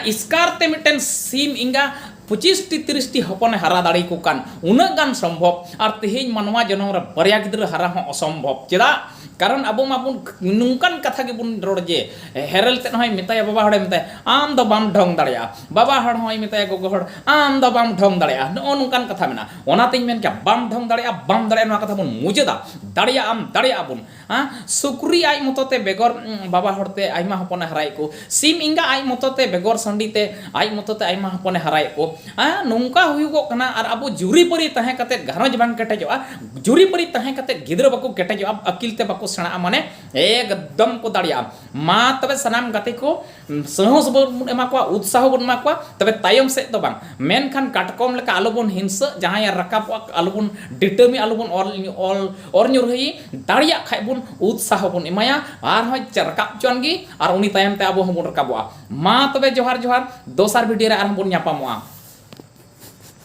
ᱮᱥᱠᱟᱨ ᱛᱮ ᱢᱤᱫᱴᱮᱱ ᱥᱤᱢ ᱮᱸᱜᱟ ᱯᱚᱸᱪᱤᱥᱴᱤ ᱛᱤᱨᱤᱥᱴᱤ ᱦᱚᱯᱚᱱᱮ ᱦᱟᱨᱟ ᱫᱟᱲᱮᱭᱟᱠᱚ ᱠᱟᱱ ᱩᱱᱟᱹᱜ ᱜᱟᱱ ᱥᱚᱢᱵᱷᱚᱵᱽ ᱟᱨ ᱛᱮᱦᱮᱧ ᱢᱟᱱᱣᱟ ᱡᱚᱱᱚᱢ ᱨᱮ ᱵᱟᱨᱭᱟ ᱜᱤᱫᱽᱨᱟᱹ ᱦᱟᱨᱟ ᱦᱚᱸ ᱚᱥᱚᱢᱵᱷᱚᱵᱽ ᱪᱮᱫᱟᱜ ᱠᱟᱨᱚᱱ ᱟᱵᱚ ᱢᱟᱵᱚᱱ ᱱᱚᱝᱠᱟᱱ ᱠᱟᱛᱷᱟ ᱜᱮᱵᱚᱱ ᱨᱚᱲ ᱡᱮ ᱦᱮᱨᱮᱞ ᱛᱮᱫ ᱦᱚᱸᱭ ᱢᱮᱛᱟᱭᱟ ᱵᱟᱵᱟ ᱦᱚᱲᱮ ᱢᱮᱛᱟᱭᱟ ᱟᱢ ᱫᱚ ᱵᱟᱢ ᱰᱷᱚᱝ ᱫᱟᱲᱮᱭᱟᱜᱼᱟ ᱵᱟᱵᱟ ᱦᱚᱲ ᱦᱚᱸᱭ ᱢᱮᱛᱟᱭᱟ ᱜᱚᱜᱚ ᱦᱚᱲ ᱟᱢ ᱫᱚ ᱵᱟᱢ ᱰᱷᱚᱝ ᱫᱟᱲᱮᱭᱟᱜᱼᱟ ᱱᱚᱜᱼᱚ ᱱᱚᱝᱠᱟᱱ ᱠᱟᱛᱷᱟ ᱢᱮᱱᱟᱜᱼᱟ ᱚᱱᱟᱛᱤᱧ ᱢᱮᱱ ᱠᱮᱭᱟ ᱵᱟᱢ ᱰᱷᱚᱝ ᱫᱟᱲᱮᱭᱟᱜᱼᱟ ᱵᱟᱢ ᱫᱟᱲᱮᱭᱟᱜᱼᱟ ᱱᱚᱣᱟ ᱠᱟᱛᱷᱟ ᱵᱚᱱ ᱢᱩᱪᱟᱹᱫᱟ ᱫᱟᱲᱮᱭᱟᱜᱼᱟᱢ ᱫᱟᱲᱮᱭᱟᱜᱼᱟ ᱵᱚᱱ ᱥᱩᱠᱨᱤ ᱟᱡ ᱢᱚᱛᱚ ᱛᱮ ᱵᱮᱜᱚᱨ ᱵᱟᱵᱟ ᱦᱚᱲᱛᱮ ᱟᱭᱢᱟ ᱦᱚᱯᱚᱱᱮ ᱦᱟᱨᱟᱭᱮᱫ ᱠᱚ ᱥᱤᱢ ᱮᱸᱜᱟ ᱟᱡ ᱢᱚᱛᱚ ᱛᱮ ᱵᱮᱜᱚᱨ ᱥᱟᱺᱰᱤ ᱛᱮ ᱟᱡ ᱢᱚᱛᱚ ᱛᱮ ᱟᱭᱢᱟ ᱦᱚᱯᱚᱱ ᱮ ᱦᱟᱨᱟᱭᱮᱫ ᱠᱚ ᱟ ᱱᱚᱝᱠᱟ ᱦᱩᱭᱩᱜᱚᱜ ᱠᱟᱱᱟ ᱟᱨ ᱟᱵᱚ ᱡᱩᱨᱤ ᱯᱟᱹᱨᱤ ᱛᱟᱦᱮᱸ ᱠᱟᱛᱮ ᱜᱷᱟᱨᱚᱸᱡᱽ ᱵᱟᱝ ᱠᱮᱴᱮᱡᱚᱜᱼᱟ ᱡᱩᱨᱤ ᱯᱟᱹᱨᱤ ᱛᱟᱦᱮᱸ ᱠᱟᱛᱮ ᱜᱤᱫᱽᱨᱟᱹ ᱵᱟᱠᱚ ᱠᱮᱴᱮᱡᱚᱜᱼᱟ ᱟᱹᱠᱤᱞ ᱛᱮ ᱵᱟᱠᱚ ᱥᱮᱬᱟᱜᱼᱟ ᱢᱟᱱᱮ ᱮᱠᱫᱚᱢ ᱠᱚ ᱫᱟᱲᱮᱭᱟᱜᱼᱟ ᱢᱟ ᱛᱚᱵᱮ ᱥᱟᱱᱟᱢ ᱜᱟᱛᱮ ᱠᱚ ᱥᱟᱦᱚᱥ ᱵᱚᱱ ᱮᱢᱟ ᱠᱚᱣᱟ ᱩᱛᱥᱟᱦᱚ ᱵᱚᱱ ᱮᱢᱟ ᱠᱚᱣᱟ ᱛᱚᱵᱮ ᱛᱟᱭᱚᱢ ᱥᱮᱫ ᱫᱚ ᱵᱟᱝ ᱢᱮᱱᱠᱷᱟᱱ ᱠᱟᱴᱠᱚᱢ ᱞᱮᱠᱟ ᱟᱞᱚ ᱵᱚᱱ ᱦᱤᱝᱥᱟᱹᱜ ᱡᱟᱦᱟᱸᱭᱮ ᱨᱟᱠᱟᱵᱚᱜᱼᱟ ᱟᱞᱚ ᱵᱚᱱ ᱰᱤᱴᱟᱹᱢᱤ ᱟᱞᱚ ᱵᱚᱱ ᱚᱨ ᱧᱩᱨᱦᱩᱭᱮ ᱫᱟᱲᱮᱭᱟᱜ ᱠᱷᱟᱡ ᱵᱚᱱ ᱩᱛᱥᱟᱦᱚ ᱵᱚᱱ ᱮᱢᱟᱭᱟ ᱟᱨ ᱦᱚᱸ ᱨᱟᱠᱟᱵ ᱦᱚᱪᱚᱣᱟᱱ ᱜᱮ ᱟᱨ ᱩᱱᱤ ᱛᱟᱭᱚᱢ ᱛᱮ ᱟᱵᱚ ᱦᱚᱸᱵᱚᱱ ᱨᱟᱠᱟᱵᱚᱜᱼᱟ ᱢᱟ ᱛᱚᱵᱮ ᱡᱚᱦᱟᱨ ᱡᱚᱦᱟᱨ ᱫᱚᱥᱟᱨ ᱵᱷᱤᱰᱤᱭᱳ ᱨᱮ ᱟᱨᱦᱚᱸ ᱵᱚᱱ ᱧᱟᱯᱟᱢᱚᱜᱼᱟ